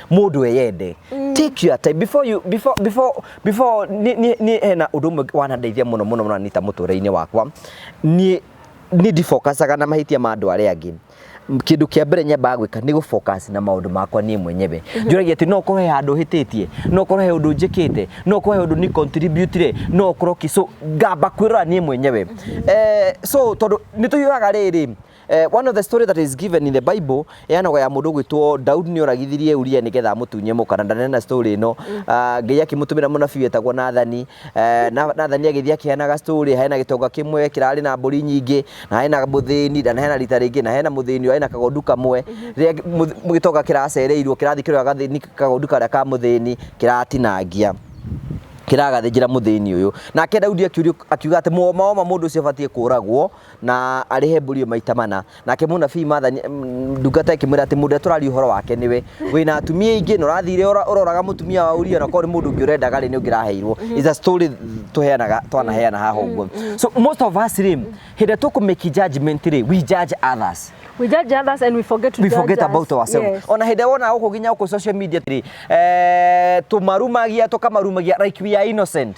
mundu eyende mm. take your time before you before before before ni ni, ni hena undu umwe wanandeithia muno muno muno nita mutureinĩ wakwa ni ni ndifokacaga na mahitia ma andu aria angi kindu kia mbere nyambaga gwika ni gu focus na maundu makwa nie mwenyewe mhm. njuragia ati no korwo he handu hititie no korwo he undu njikite no korwo he undu ni contribute re no korwo ki so ngamba kwirora nie mwenyewe mhm. eh so tondu ni tuyuaga riri Eh, one of the story that is given in the bible ĩanagwo ya mũndũ gwĩtwo daudi nĩ oragithirie uria nĩgetha amũtunye mũka na ndanena story ĩno mm. ah, ngai akĩmũtũmĩra mũnabii wetagwo nathani eh, nathani agĩthiĩ akĩheanaga story hena gĩtonga kĩmwe kĩrarĩ na mbũri nyingĩ na hena mũthĩni na hena rita rĩngĩ na hena mũthĩni ũrarĩ na kagondu kamwe mhm. rĩrĩa gĩtonga kĩracereirwo kĩrathiĩ kĩroya gathĩni kagondu karĩa ka mũthĩni kĩratinangia kiragathĩnjĩra mũthĩni ũyũ nake Daudi akiuga atĩ mũomaoma mũndũ ũcio abatiĩ kũragwo na arĩhe mbũri ĩyo maita mana. Nake mũnabii Martha ndungata ĩkĩmwĩra atĩ mũndũ ũrĩa tũraria ũhoro wake nĩwe, wĩna atumia aingĩ na ũrathire ũroraga mũtumia wa Uria na korwo nĩ mũndũ ũngĩ ũrendaga rĩ nĩ ũngĩ ũraheirwo. It's a story tũheanaga twanaheana haha ũguo. So most of us rĩ, hĩndĩ ĩrĩa tũkũ make judgment rĩ, we judge others. We judge others and we forget to we judge forget us. about ourselves. Yes. Ona hĩndĩ wona gũkũ nginya gũkũ social media atĩrĩ, eh, tũmarumagia tũkamarumagia like we are innocent.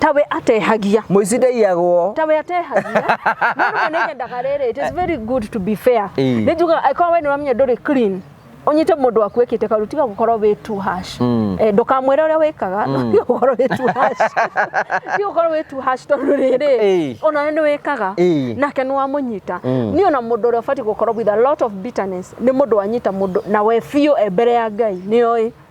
tawe atehagia mũici ndaiyagwo tawe atehagia no nĩ nyendaga rĩrĩ it is very good to be fair Ĩĩ. nĩ njugaga angĩkorwo we nĩ ũramenya ndũrĩ clean ũnyite mũndũ waku ekĩte karu tiga gũkorwo wĩ too harsh Mm. Eh, ndũkamwĩre ũrĩa wĩkaga no tiga gũkorwo wĩ too harsh tiga gũkorwo wĩ too harsh tondũ Ĩĩ. rĩrĩ ona we nĩ wĩkaga Ĩĩ. nake nĩ wamũnyita Mm. niĩ ona mũndũ ũrĩa ũbatiĩ gũkorwo with a lot of bitterness nĩ mũndũ wanyita mũndũ na we biũ e mbere ya ngai nĩ oĩ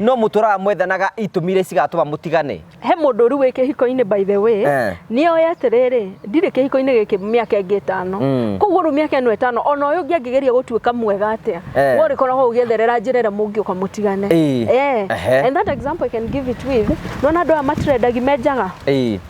No mũtũraga mwethanaga itũmi iria cigatũma mũtigane. He mũndũ ũru wĩ kĩhiko-inĩ by the way, Eh. nĩ oĩ atĩrĩrĩ, ndirĩ kĩhiko-inĩ gĩkĩ mĩaka ĩngĩ ĩtano. Mm. Koguo rĩu mĩaka ĩno ĩtano, ona ũyũ ũngĩ angĩgeria gũtuĩka mwega atĩa, Eh. we ũrĩkoragwo ũgĩetherera njĩra ĩrĩa mũngĩũka mũtigane. Ĩĩ. Eh. Ehe. And that example I can give it with, nĩwona andũ aya matrendagi me njaga. Ĩĩ.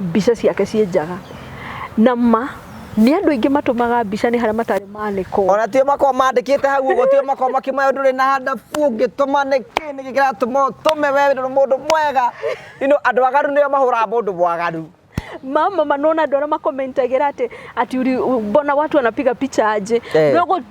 mbica ciake ciĩ njaga na ma nĩ andũ aingĩ matũmaga mbica nĩ harĩa matarĩ manĩkwo ona tio makorwo mandĩkĩte hau ũguo tio makorwo makĩmaya ndũrĩ na handa fu ũngĩtũma nĩ kĩ nĩ kĩ kĩratũma ũtũme we nĩ mũndũ mwega you know andũ agaru nĩo mahũraga mũndũ mwagaru mama manona andå arä a makomentagä ra atä ati uri- mbona watu wanapiga picha aje Eh. no gå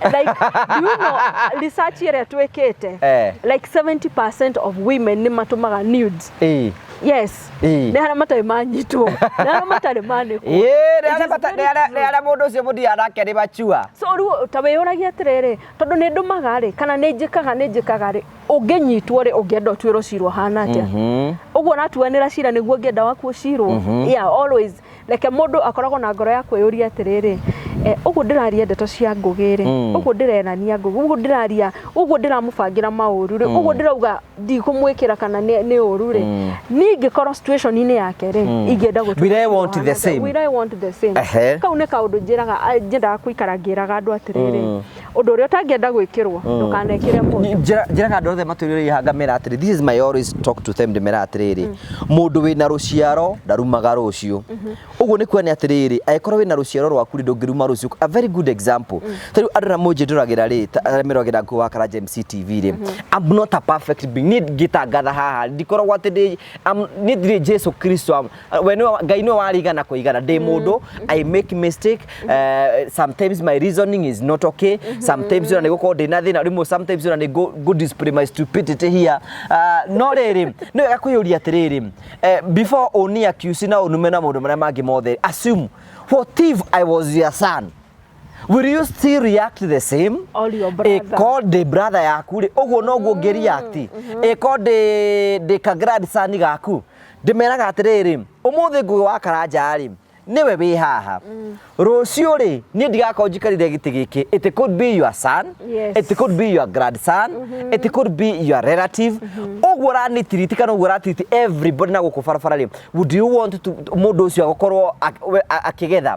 like do you know research ĩrĩa twĩkĩte Eh. like 70% of women nĩ matũmaga nudes Eh. yes Eh. nĩ harĩa matarĩ manyitwo nĩ harĩa matarĩ manĩkwo Ĩĩ, It rĩarĩa is bata- very rĩarĩa- true. rĩarĩa mũndũ ũcio mũthia nake nĩ machua so rĩu ta wĩyũragia atĩrĩrĩ tondũ nĩ ndũmaga rĩ kana nĩ njĩkaga nĩ njĩkaga rĩ ũngĩnyitwo rĩ ũngĩenda ũtuĩrwo cira ũhana atĩa ũguo ũratuanĩra cira nĩguo ũngĩenda waku ũcirwo yeah always reke mũndũ akoragwo na ngoro ya kwĩyũria atĩrĩrĩ eh, ũguo ndĩraria ndeto cia ngũgĩ rĩ mm. ũguo ndĩrenania ngũgĩ ũguo ndĩraria ũguo ndĩramũbangĩra maũru rĩ mm. ũguo ndĩrauga ndikũmwĩkĩra kana nĩ ũru rĩ mm. niĩ ingĩkorwo situationinĩ yake rĩ ingĩenda gũtwirewantthesame kau nĩ kaũndũ njĩraga nyendaga kũikara ngĩraga andũ atĩrĩrĩ ũndũ ũrĩa ũtangĩenda gwĩkĩrwo mm. ndũkanekĩre mũndũ njĩraga andũ othe matũrĩrĩ hanga mera atĩrĩ this is my always talk to them ndĩmera atĩrĩrĩ mm. mũndũ wĩna rũciaro ndarumaga rũciũ mm-hmm. ũguo nĩ kuonania atĩrĩrĩ angĩkorwo wĩna rũciaro rwaku rĩ ndũngĩruma rũciũ a very good example mm. ta rĩu andũ arĩa mũnjĩndũragĩra rĩ arĩa meragĩra nguo wa Karanja MC TV rĩ mm-hmm. I'm not a perfect being niĩ ngĩtangatha haha ndikoragwo atĩ niĩ ndirĩ Jesu Kristo Ah, we nĩwe wa- ngai nĩwe warigana kũigana ndĩ mũndũ i make mistake uh, sometimes my reasoning is not okay sometimes ona nĩ gũkorwo ndĩ na thĩna rĩmwe sometimes ona nĩ ngũ- ngũ display my stupidity here uh, no rĩrĩ nĩ wega kwĩyũria atĩrĩrĩ eh, before ũni accuse na ũnume na maũndũ marĩa mangĩ mothe assume what if i was your son will you still react the same Or your brother. Ĩko ndĩ brother yaku rĩ ũguo noguo ngĩ react ĩko ndĩ ndĩ ka grandson gaku ndĩmeraga atĩrĩrĩ ũmũthĩ ngũgĩ wa karanja rĩ nĩwe wĩ haha mm. rũciũ rĩ niĩ ndigakorwo njikarire gĩtĩ gĩkĩ it could be your son yes. it could be your grandson mm -hmm. it could be your relative mm-hmm. ũguo ũranitiriti kana ũguo ũratiriti everybody na gũkũ barabara rĩ would you want to mũndũ ũcio agũkorwo akĩgetha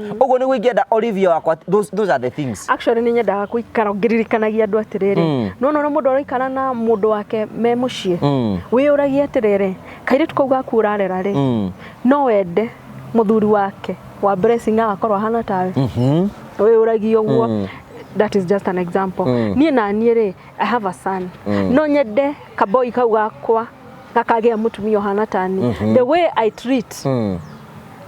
ũguo nĩguo ingĩenda Olivia wakwa those, those are the things actually nĩ nyendaga kũikara ngĩririkanagia andũ atĩrĩrĩ Mm. nona ũrĩa mũndũ araikara na mũndũ wake me mũciĩ Mm. wĩyũragia atĩrĩrĩ kairĩtu kau gaku ũrarera rĩ Mm. no wende mũthuri wake wa blessing agakorwo ahana tawe Mhm. wĩyũragia ũguo Mm. that is just an example Mm. niĩ naniĩ rĩ i have a son Mm. no nyende kaboi kau gakwa gakagĩa mũtumia ũhana tani the way i treat Mm.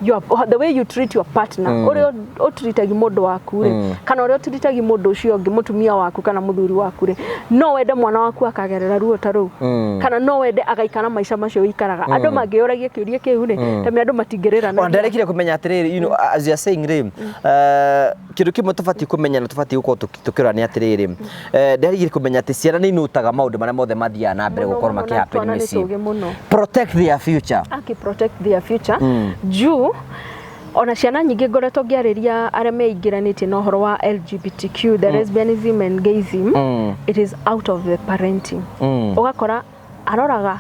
your, the way you treat your partner mm. ore utritaga mundu waku ri mm. kana ore utritaga mundu ucio ungi mutumia waku kana muthuri waku ri no wende mwana waku akagerera ruo ta ru mm. kana no wende agaikara maisha macio ikaraga mm. andu mangiuragia kiuria kiu ri mm. tame andu matingerera na ndarekire kumenya atiriri you know as you are saying ri mm. uh, kindu kimwe tubati kumenya na tubati gukorwo tũkĩrora nĩ atĩrĩrĩ eh, nderigire kũmenya atĩ ciana nĩ inutaga maũndũ marĩa mothe mathiaga na mbere gũkorwo Mũno, mũno, na twana makĩhappen nĩ mĩciĩ tũgĩ mũno. protect their future aki protect their future Mm. juu ona ciana nyingĩ ngoretwo ngĩarĩria arĩa meingĩranĩtie na ũhoro wa lgbtq the lesbianism and gayism Mm. it is out of the parenting Mm. ũgakora aroraga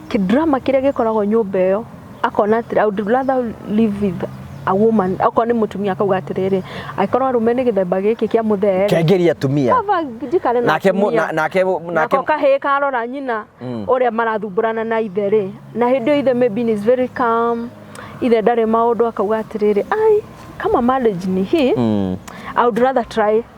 kĩ drama kĩrĩa gĩkoragwo nyũmba ĩyo akona atĩrĩ I would rather live with a woman okorwo nĩ mũtumia akauga atĩrĩrĩ angĩkorwo arũme nĩ gĩthemba gĩkĩ kĩa mũthee rĩ, kengeri atumia baba njikare na nake mu- atumia." na- nake mu- nake nako kahĩĩ karora nyina Mm. ũrĩa marathumbũrana na ithe rĩ na hĩndĩ ĩyo ithe maybe is very calm ithe ndarĩ maũndũ akauga atĩrĩrĩ ai kama marriage ni hii Mm. I would rather try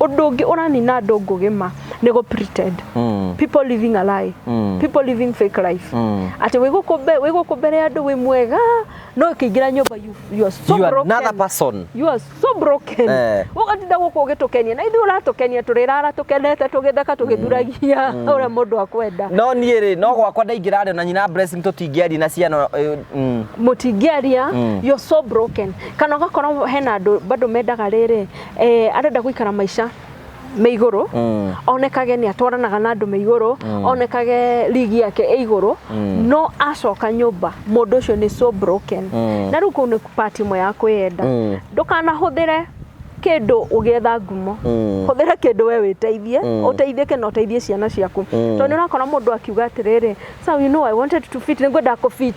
Ũndũ ũngĩ ũranina andũ ngũgĩ ma nĩ gũ pretend. Mm. People living a lie. Mm. People living fake life. Mm. Atĩ wĩ gũkũ mbe- wĩ gũkũ mbere ya andũ wĩ mwega no ũkĩingĩra nyũmba you, you are so You are broken. another person. You are so broken. Eh. Ũgatinda gũkũ ũgĩtũkenia na ithuĩ ũratũkenia tũrĩrara tũkenete tũgĩtheka tũgĩthuragia ũrĩa mũndũ akwenda. No niĩ rĩ, no gwakwa ndaingĩra rĩ, na nyina Blessing tũtingĩaria na ciana. eh, mm. mũtingĩaria Mm. you're so broken kana ũgakorwo hena andũ bado mendaga rĩrĩ eh, arenda gũikara maica me igũrũ mm. onekage nĩ atwaranaga na andũ me igũrũ mm. onekage ligi yake ĩ igũrũ mm. no acoka nyũmba mũndũ ũcio nĩ so broken mm. na rĩu kũu nĩ part ĩmwe ya kwĩyenda mm. ndũkanahũthĩre kĩndũ ũgĩetha ngumo mm. hũthĩra kĩndũ we wĩteithie mm. ũteithĩke na ũteithie ciana ciaku mm. tondũ nĩ ũrakora mũndũ akiuga atĩrĩrĩ so you know I wanted to fit nĩ ngwenda kũ fit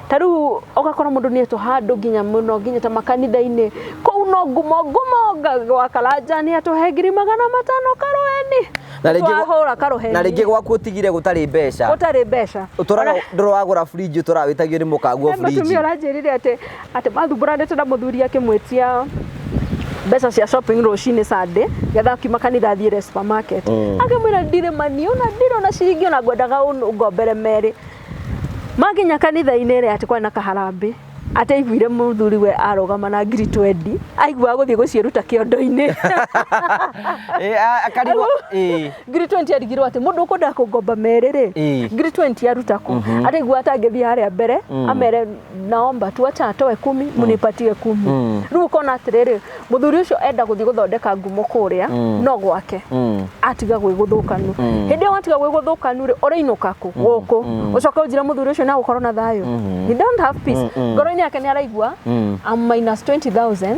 ta rĩu ũgakora mũndũ nĩ etwo handũ nginya mũno nginya ta makanitha-inĩ kũu no ngumo ngumo nga- gwa karanja nĩ atũhe ngiri magana matano karũeni Na rĩngĩ gwa- twahũra karũheni na rĩngĩ gwaku ũtigire gũtarĩ mbeca gũtarĩ mbeca ũtũraga Ona- ndũrĩ wagũra burinji ũtũraga wĩtagio nĩ mũkangu wa he burinji mũtumia ũranjĩrire atĩ atĩ mathumburanĩte na mũthuri akĩmwĩtia mbeca cia shopping rũcinĩ sande getha akiuma kanitha athiĩre supermarket Mm. akĩmwĩra ndirĩ mani ona ndirĩ ona ciringi ona ngwendaga ũnũ- ngombere merĩ Makinya kanitha-inĩ rĩ, atĩ kwarĩ na kaharambĩ, atĩ aiguire mũthuri we arũgama na ngiri twendi, aiguaga gũthiĩ gũciĩruta kĩondo-inĩ. Eh, a- akarigwo eh, ngiri 20 arigirwo atĩ mũndũ ũkwendaga kũngomba merĩ rĩ Ĩĩ. ngiri 20 aruta kũ araigua atangĩthiĩ harĩa mbere amere naomba tu acha atoe kumi munipatie kumi Mm. rĩu ũkona atĩrĩrĩ mũthuri ũcio enda gũthiĩ gũthondeka ngumo kũrĩa Mm. no gwake Mm. atiga gwĩ gũthũkanu Mm. hĩndĩ ĩyo watiga gwĩ gũthũkanu rĩ ũrĩinũka kũ gũkũ Mm. ũcoke ũnjire mũthuri ũcio nagũkorwo na thayũ Mhm. he don't have peace Mm, mm. ngoro-inĩ yake nĩ araigua Mm. I'm minus 20000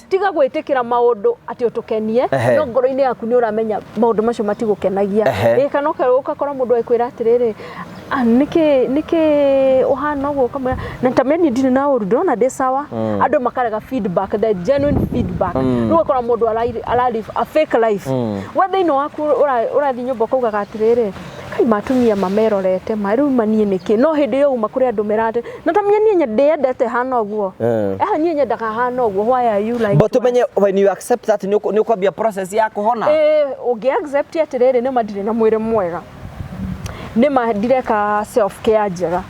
tiga gwĩtĩkĩra maũndũ atĩ ũtũkenie Ehe. no ngoro-inĩ yaku nĩ ũramenya maũndũ macio matigũkenagia Ehe. Ĩĩ, kana ũka- ũgakora mũndũ agĩkwĩra atĩrĩrĩ "Ah, nĩkĩ nĩkĩ ũhana ũguo ũkamwĩra na tameni ndirĩ na ũru ndĩrona ndĩ sawa andũ makarega feedback the genuine feedback rĩu ũgakora mũndũ ara- ara live a fake life we thĩinĩ waku ũra- ũrathiĩ nyũmba ũkaugaga atĩrĩrĩ Kai matumia mamerorete ma riu manie niki no hindi iyo uma kuri andu merate na tamia nie ndiyendete hana uguo eh. eh nie nyendaga hana uguo why are you like but tumenye when you accept that ni ukwambia process ya kuhona eh ungi accept atiriri ni madire na mwire mwega ni madireka self care njega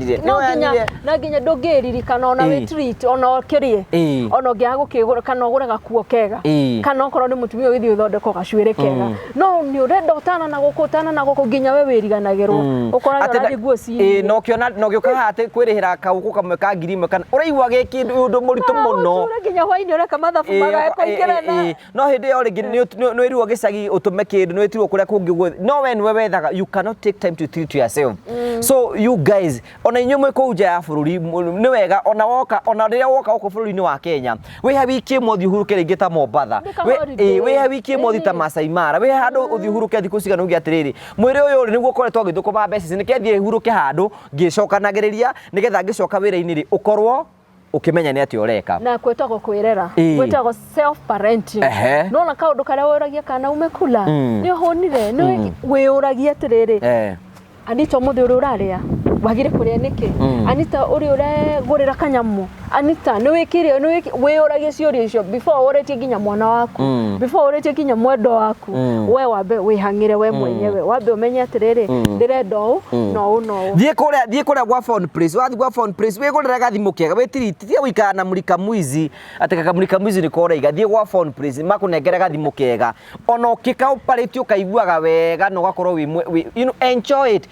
Ndirĩ. no Nĩwoya nginya ndirĩ. na nginya ndũngĩririkana ona wĩ Ĩĩ. treat ona ũkĩrĩe Ĩĩ. ona ũngĩaga gũkĩgũra kana ũgũre gakuo kega Ĩĩ. kana okorwo nĩ mũtumia ũgĩthiĩ ũthondeko gacuĩrĩ kega Mm. no nĩ ũrenda ũtana na gũkũ ũtana na gũkũ nginya we wĩriganagĩrwo Mm. ũkoraga Atĩ na- ũrathiĩ nguo ĩĩ, ciĩ na ũkĩona na ũgĩũka haha atĩ kwĩrĩhĩra kaũkũ kamwe ka ngiri ĩmwe kana ũraigua gĩ kĩndũ ũndũ mũritũ mũno nginya hwainĩ ũreka mathabu Ĩĩ, magae ĩĩ, kũingĩrana ĩĩ. no hĩndĩ ĩyo rĩngĩ nĩ ũt- nĩ- nĩ wĩrirwo gĩcagi ũtũme kĩndũ nĩ wĩtirwo kũrĩa kũngĩ guothe no we nĩwe wethaga you cannot take time to treat yourself so you guys ona inyuĩ mwĩ kũu nja ya bũrũri mũ- nĩ wega ona woka ona rĩrĩa woka gũkũ bũrũri-inĩ wa Kenya wĩha wiki ĩmwe ũthiĩ ũhurũke rĩngĩ ta Mombatha Nĩ ka Wĩ- holiday. ĩ, wĩha wiki ĩmwe ũthiĩ ta Ĩni. Masai Mara wĩha handũ ũthiĩ ũhurũke thikũ cigana uge atĩrĩrĩ mwĩrĩ ũyũ rĩ nĩguo ũkoretwo ũgĩthũkũma mbeca ici nĩke thiĩ hurũke handũ ngĩcokanagĩrĩria nĩgetha ngĩcoka wĩra-inĩ rĩ ũkorwo ũkĩmenya nĩ atĩa ũreka na kwĩtagwo kwĩrera Ĩĩ. gwĩtagwo self parenting Ehe. nona kaũndũ karĩa wĩragia kana umekula Mm. nĩ ũhũnire nĩ wĩyũragia atĩrĩrĩ Eh, anita mũthĩ ũrĩa ũrarĩa wagire kũrĩa nĩkĩ Mm. anita ũrĩa ũregũrĩra kanyamũ anita nĩ wĩkire nĩ wĩki- wĩyũragia ciũria icio before ũrĩtie nginya mwana waku Mm. before ũrĩtie nginya mwendwa waku waku mm. we wambe wĩhang'ĩre we mm. mwenyewe mm. wambe ũmenye atĩrĩrĩ mm. ndĩrenda ũũ mm. na ũũ na ũũ thiĩ kũrĩa thiĩ kũrĩa gwa phone place wathiĩ gwa phone place wĩgũrĩre gathimũ kega wĩtiriti tiga gũikara na mũrika mwizi atĩ kaka mũrika mwizi nĩ koraiga thiĩ gwa phone place makũnengere gathimũ kega ona ũkĩkaũparĩti ũkaiguaga wega na ũgakorwo wĩ you know, enjoy it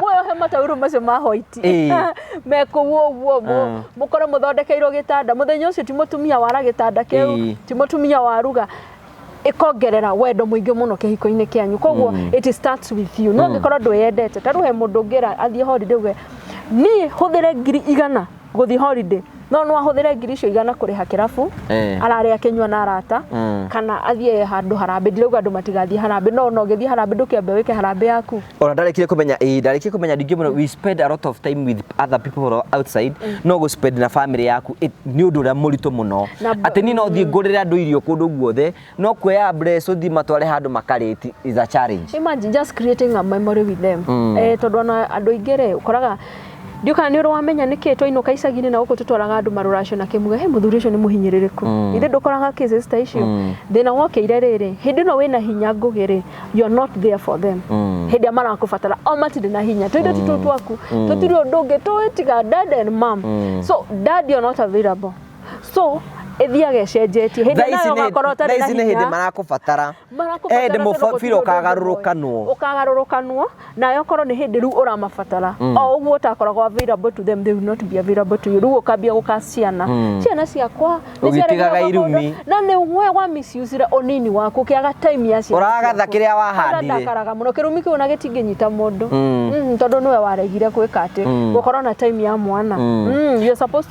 muoyo he mataurũ macio ma hoiti Ĩĩ. mekũu ũguo Mm. mũkorwo mũthondekeirwo gĩtanda mũthenya ũcio ti mũtumia wara gĩtanda kĩu Ĩĩ. ti mũtumia waruga ĩkongerera wendo mũingĩ mũno kĩhiko-inĩ kĩanyu koguo Mm. it starts with you no Mm. angĩkorwo ndwĩyendete tarĩu he mũndũ ũngĩra athiĩ holiday uge niĩ hũthĩre ngiri igana gũthiĩ holiday no no ahũthĩre ngiri icio igana kũrĩha kĩrabu Eh. arare akĩnyua na arata Mm. kana athiĩ handũ harambĩ ndirauga andũ matigathiĩ harambĩ no no ũgĩthiĩ harambĩ ndũkĩambe wĩke harambĩ yaku ona ndarekire kumenya ĩĩ ndarekire kumenya ndingĩ mũno we spend a lot of time with other people who are outside no gå spend na family yaku it- nĩ ũndũ ũrĩa mũritũ mũno Na mba- atĩ niĩ no thiĩ ngũrĩre andũ irio kũndũ guothe No kuoya brace uthi matware handu makarĩti is a challenge. Imagine just creating a memory with them. Mm. Eh, tondu ona andu aingi ri ukoraga ndio kana ni urawamenya niki twainuka icagi-ini na guku tutwaraga andu maruracio na kimuga he muthuri ucio ni muhinyiririku mm. ithe ndukoraga cases ta icio mm. thina wokeire riri hindi no wina hinya ngugi ri you are not there for them mm. hindi amarakubatara o matiri na hinya twende mm. tutu twaku mm. tutiri undu ungi tuitiga dad and mom mm. so dad you are not available so ĩthiaga ĩcenjetie hĩndĩ nayo ũgakorwo ũtarĩ na hinya hĩndĩ marakũbatara hĩndĩ mũbira ũkagarũrũkanwo ũkagarũrũkanwo nayo korwo nĩ hĩndĩ rĩu ũramabatara mm. o ũguo ũtakoragwo available to them they will not be available to you rĩu ũkambia gũka ciana mm. ciana ciakwa ũgĩtigaga irumi na nĩ we wa misuse ũnini waku ũkĩaga time ya ciana ũragatha kĩrĩa wahandire ndakaraga mũno kĩrumi kĩu ona gĩtingĩnyita mũndũ mm. tondũ nĩwe waregire gwĩka atĩ gũkorwo na time ya mwana you're supposed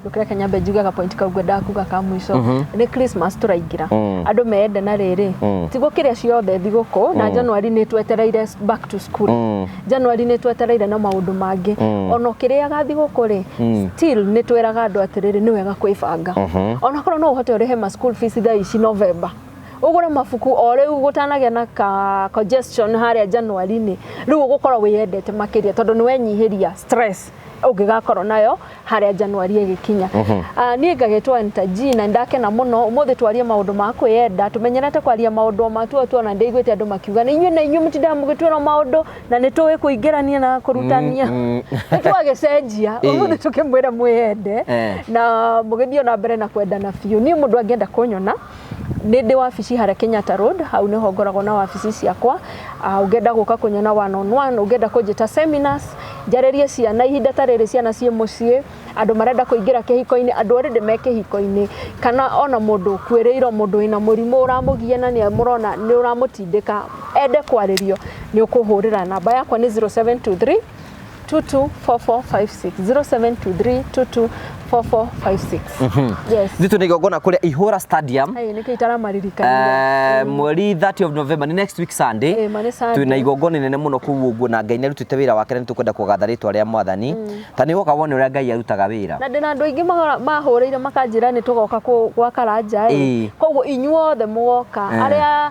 ndukire kenya mbe njuge gapointi kau ngwendaga kuga ka mũico Mhm. nĩ christmas tũraingĩra Mm. andũ meende na rĩrĩ Mm. ti gũkĩrĩa ciothe thigũkũ na januari nĩ twetereire back to school Mm. januari nĩ twetereire na maũndũ mangĩ Mm. ona ũkĩrĩaga thigũkũ rĩ Mm. still nĩ tweraga andũ atĩrĩrĩ nĩ wega kwĩbanga Mhm. ona korwo no ũhote ũrĩhe ma school fees thaa ici novemba ũgũre mabuku o rĩu gũtanagĩa na ka congestion harĩa januari-inĩ rĩu ũgũkorwo wĩyendete makĩria tondũ nĩ wenyihĩria stress ũngĩgakorwo nayo harĩa Januari ĩgĩkinya. Ah, Niĩ ngagetwo Enta G na ndakena mũno ũmũthĩ twarie maũndũ ma kwĩyenda tũmenyerete kwaria maũndũ o matuo tuo na ndĩiguĩte andũ makiuga nĩ inyuĩ na inyuĩ mũtindaga mũgĩtwĩra maũndũ na nĩ tũĩ kũingĩrania na kũrutania nĩ twagĩcenjia Ĩĩ. ũmũthĩ tũkĩmwĩra mwĩyende Eh. na mũgĩthiĩ o na mbere na kwendana biũ niĩ mũndũ angĩenda kũnyona nĩ ndĩ wabici harĩa Kenyatta Road, hau nĩho ngoragwo na wabici ciakwa. Ah, ũngĩenda gũka kũnyona one on one, ũngĩenda kũnjĩta seminars, njarĩrie ciana, ihinda ta rĩrĩ ciana ciĩ mũciĩ, andũ marenda kũingĩra kĩhiko-inĩ, andũ already me kĩhiko-inĩ, kana ona mũndũ ũkuĩrĩirwo, mũndũ wĩna mũrimũ ũramũgia na nĩ mũrona nĩ ũramũtindĩka, ende kwarĩrio, nĩ ũkũhũrĩra. Namba yakwa nĩ 0723 0723224456 0723224456 yes Zito nä igongona kå rä a ihå ra stadium Ai, nä kä itaramaririkania Eh, mweri 30 of November nĩ next week Sunday Eh, ma nĩ Sunday. twĩ na igongona inene mũno kũu ũguo na Ngai nĩ arutĩte wĩra wake na nĩ tũkwenda kũgatha rĩtwa rĩa mwathani ta nĩ woka wone ũrĩa Ngai arutaga wĩra na ndä na andå aingä mahå rä ire makanjä ra nä tå goka gwaka ranja Ĩĩ. koguo inyuothe må goka Eh. arä a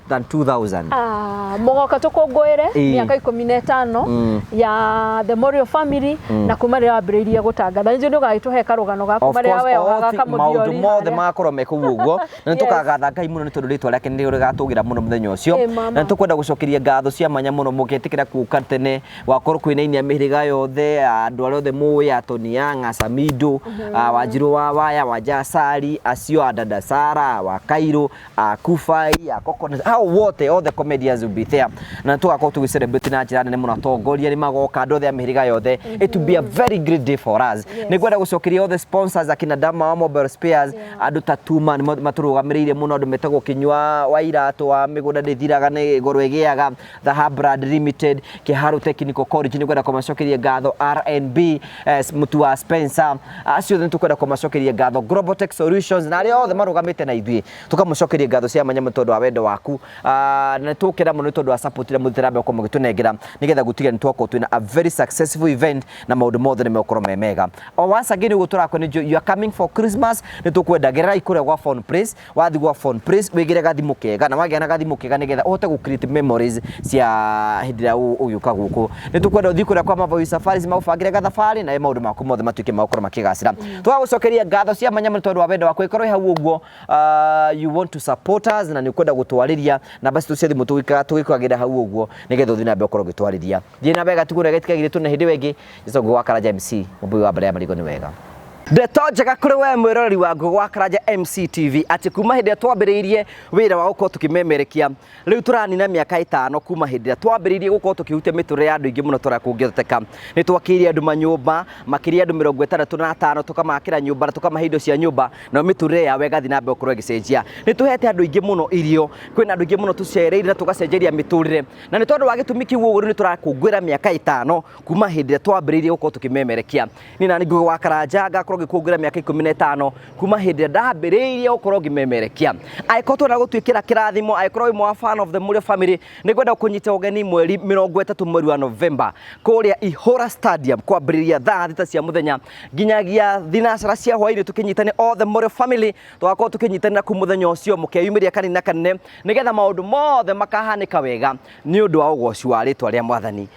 than 2000 Ah, mũgoka tũkũngũĩre Ĩĩ. mĩaka ikũmi na ĩtano Mm. ya the Morio family na kuma rĩrĩa wambĩrĩirie gũtangatha nĩnjũ nĩ ũgagĩtũhe karũgano gaku Of marĩa course, we o oga thi- maũndũ kamũthiori mothe harĩa. magakorwo me kũu ũguo na nĩ Yes. tũkagatha ngai mũno nĩ tondũ rĩtwa rĩake nĩ rĩgatũgĩra mũno mũthenya ũcio Ĩ, mama. na nĩ tũkwenda gũcokeria ngatho cia mwanya mũno mũgĩtĩkĩra kuka tene wakorwo kwĩnainia mĩhĩrĩga yothe andũ arĩa othe mũĩ atoni ya ng'acamindo wanjirũ wa waya wanjasari acio a dada sara wa kairũ uh, Kufai, uh, Coconut, hao wote all the comedians will be there na tugakorwo tugĩ celebrate na njĩra nene mũno atongoria nĩ magoka andũ othe a mĩhĩrĩga yothe it will be a very great day for us Yes. nĩ ngwenda gũcokeria all the sponsors akina Dama wa Mobile Spares Yeah. andũ ta Tuma nĩ matũrũgamĩrĩire mũno andũ metagwo kĩnyua wa iratũ wa mĩgũnda ndĩthiraga nĩ goro ĩgĩaga The Hub Brand Limited, Kiharu Technical College nĩ ngwenda kũmacokeria ngatho RNB, eh, mũtu wa Spencer, acio nĩ tũkwenda kũmacokeria ngatho Global Tech Solutions na arĩa othe marũgamĩte na ithuĩ tũkamũcokeria ngatho cia manyamũ tondũ wa wendo waku Ah, na nĩ tũkena mũno nĩ tondũ wa support ĩrĩa mũthitĩra mbere gũkorwo mũgĩtũnengera nĩgetha gũtiga nĩ twakorwo twĩna a very successful event na maũndũ mothe nĩ megũkorwo me mega o once again ũguo tũrakwo nĩ you are coming for Christmas nĩ tũkwenda gererai kũrĩa gwa Phone Place wathi gwa phone please wigire gathimu kega na wagĩa na gathimu kega nigetha uhote gu create memories cia hindi ĩrĩa ũ- ũgĩũka gũkũ nĩ tũkwenda ũthiĩ kũrĩa kwa Mavoi Safaris magũbangĩre gathabarĩ na maũndũ maku mothe matuĩke magũkorwo makĩgacĩra twagũcokeria ngatho cia mwanya mũno tondũ wa wendo waku ĩkorwo ĩ hau ũguo ah, you want to support us na nĩ ũkwenda gũtwarĩria namba citũ cia thimũ tũgĩka- tũgĩkwagĩra hau ũguo nĩgetha ũthiĩ na mbere ũkorwo ũgĩtwarĩria thiĩ na mbere gatigũrĩa getikagire tũne hĩndĩ ĩyo ĩngĩ Izo Ngũgwa Karanja MC, mũmbui wa mbere ya marigũ nĩ wega. Ndeto njega kũrĩ we mwĩroreri wa Ngũgwa Karanja MC TV atĩ kuma hĩndĩ ĩrĩa twambĩrĩirie wĩra wa gũkorwo tũkĩmemerekia rĩu tũranina mĩaka ĩtano kuma hĩndĩ ĩrĩa twambĩrĩirie gũkorwo tũkĩhutia mĩtũrĩre ya andũ aingĩ mũno tũrĩa kũngĩhoteka nĩ twakĩire andũ manyũmba makĩria andũ mĩrongo ĩtandatũ na atano tũkamakĩra nyũmba na tũkamahe indo cia nyũmba na mĩtũrĩre yao ĩgathiĩ na mbere gũkorwo ĩgĩcenjia nĩ tũhete andũ aingĩ mũno irio kwĩna andũ aingĩ mũno tũcereire na tũgacenjeria mĩtũrĩre na nĩ tondũ wa gĩtũmi kĩu ũguo rĩu nĩ tũrakũngũĩra mĩaka ĩtano kuma hĩndĩ ĩrĩa twambĩrĩirie gũkorwo tũkĩmemerekia niĩ na nĩ nguhĩ wa karanja ngakorwo ngĩkuongerera mĩaka ikũmi na ĩtano kuma hĩndĩ ĩrĩa ndambĩrĩirie gũkorwo ngĩmemerekia angĩkorwo twenda gũtuĩkĩra kĩrathimo angĩkorwo wĩ mwa fan of the Mũrĩo family nĩ ngwenda kũnyita ũgeni mweri mĩrongo ĩtatũ mweri wa November kũrĩa Ihũra Stadium kwambĩrĩria thaa thita cia mũthenya nginyagia thinacara cia hwaĩ-inĩ tũkĩnyitane all the Mũrĩo family tũgakorwo tũkĩnyitanĩra kuu mũthenya ũcio mũkeyumĩria kanini na kanene nĩgetha maũndũ mothe makahanĩka wega nĩ ũndũ wa ũgoci wa rĩtwa rĩa mwathani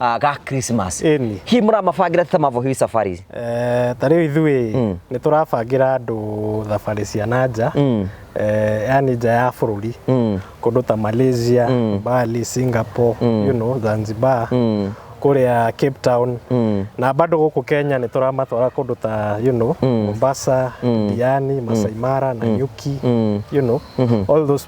ah, ga Christmas Ĩni. hihi mũramabangĩra atĩa mavo hihi safari ici Eh, ta rĩu ithuĩ Mm. nĩ tũrabangĩra andũ thabarĩ cia na nja Mm. eh, yani nja ya bũrũri Mm. kũndũ ta malaysia Mm. bali singapore Mm. you know, zanzibar Mm. kũrĩa cape town Mm. na bado gũkũ kenya nĩ tũramatwara kũndũ ta you know, Mm. mombasa Mm. diani masai mara na nyuki Mm. you know, Mhm. all those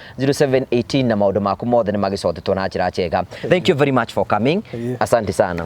0718 na maundu maku mothe nĩ magicotetwo na njĩra njega thank you very much for coming asante sana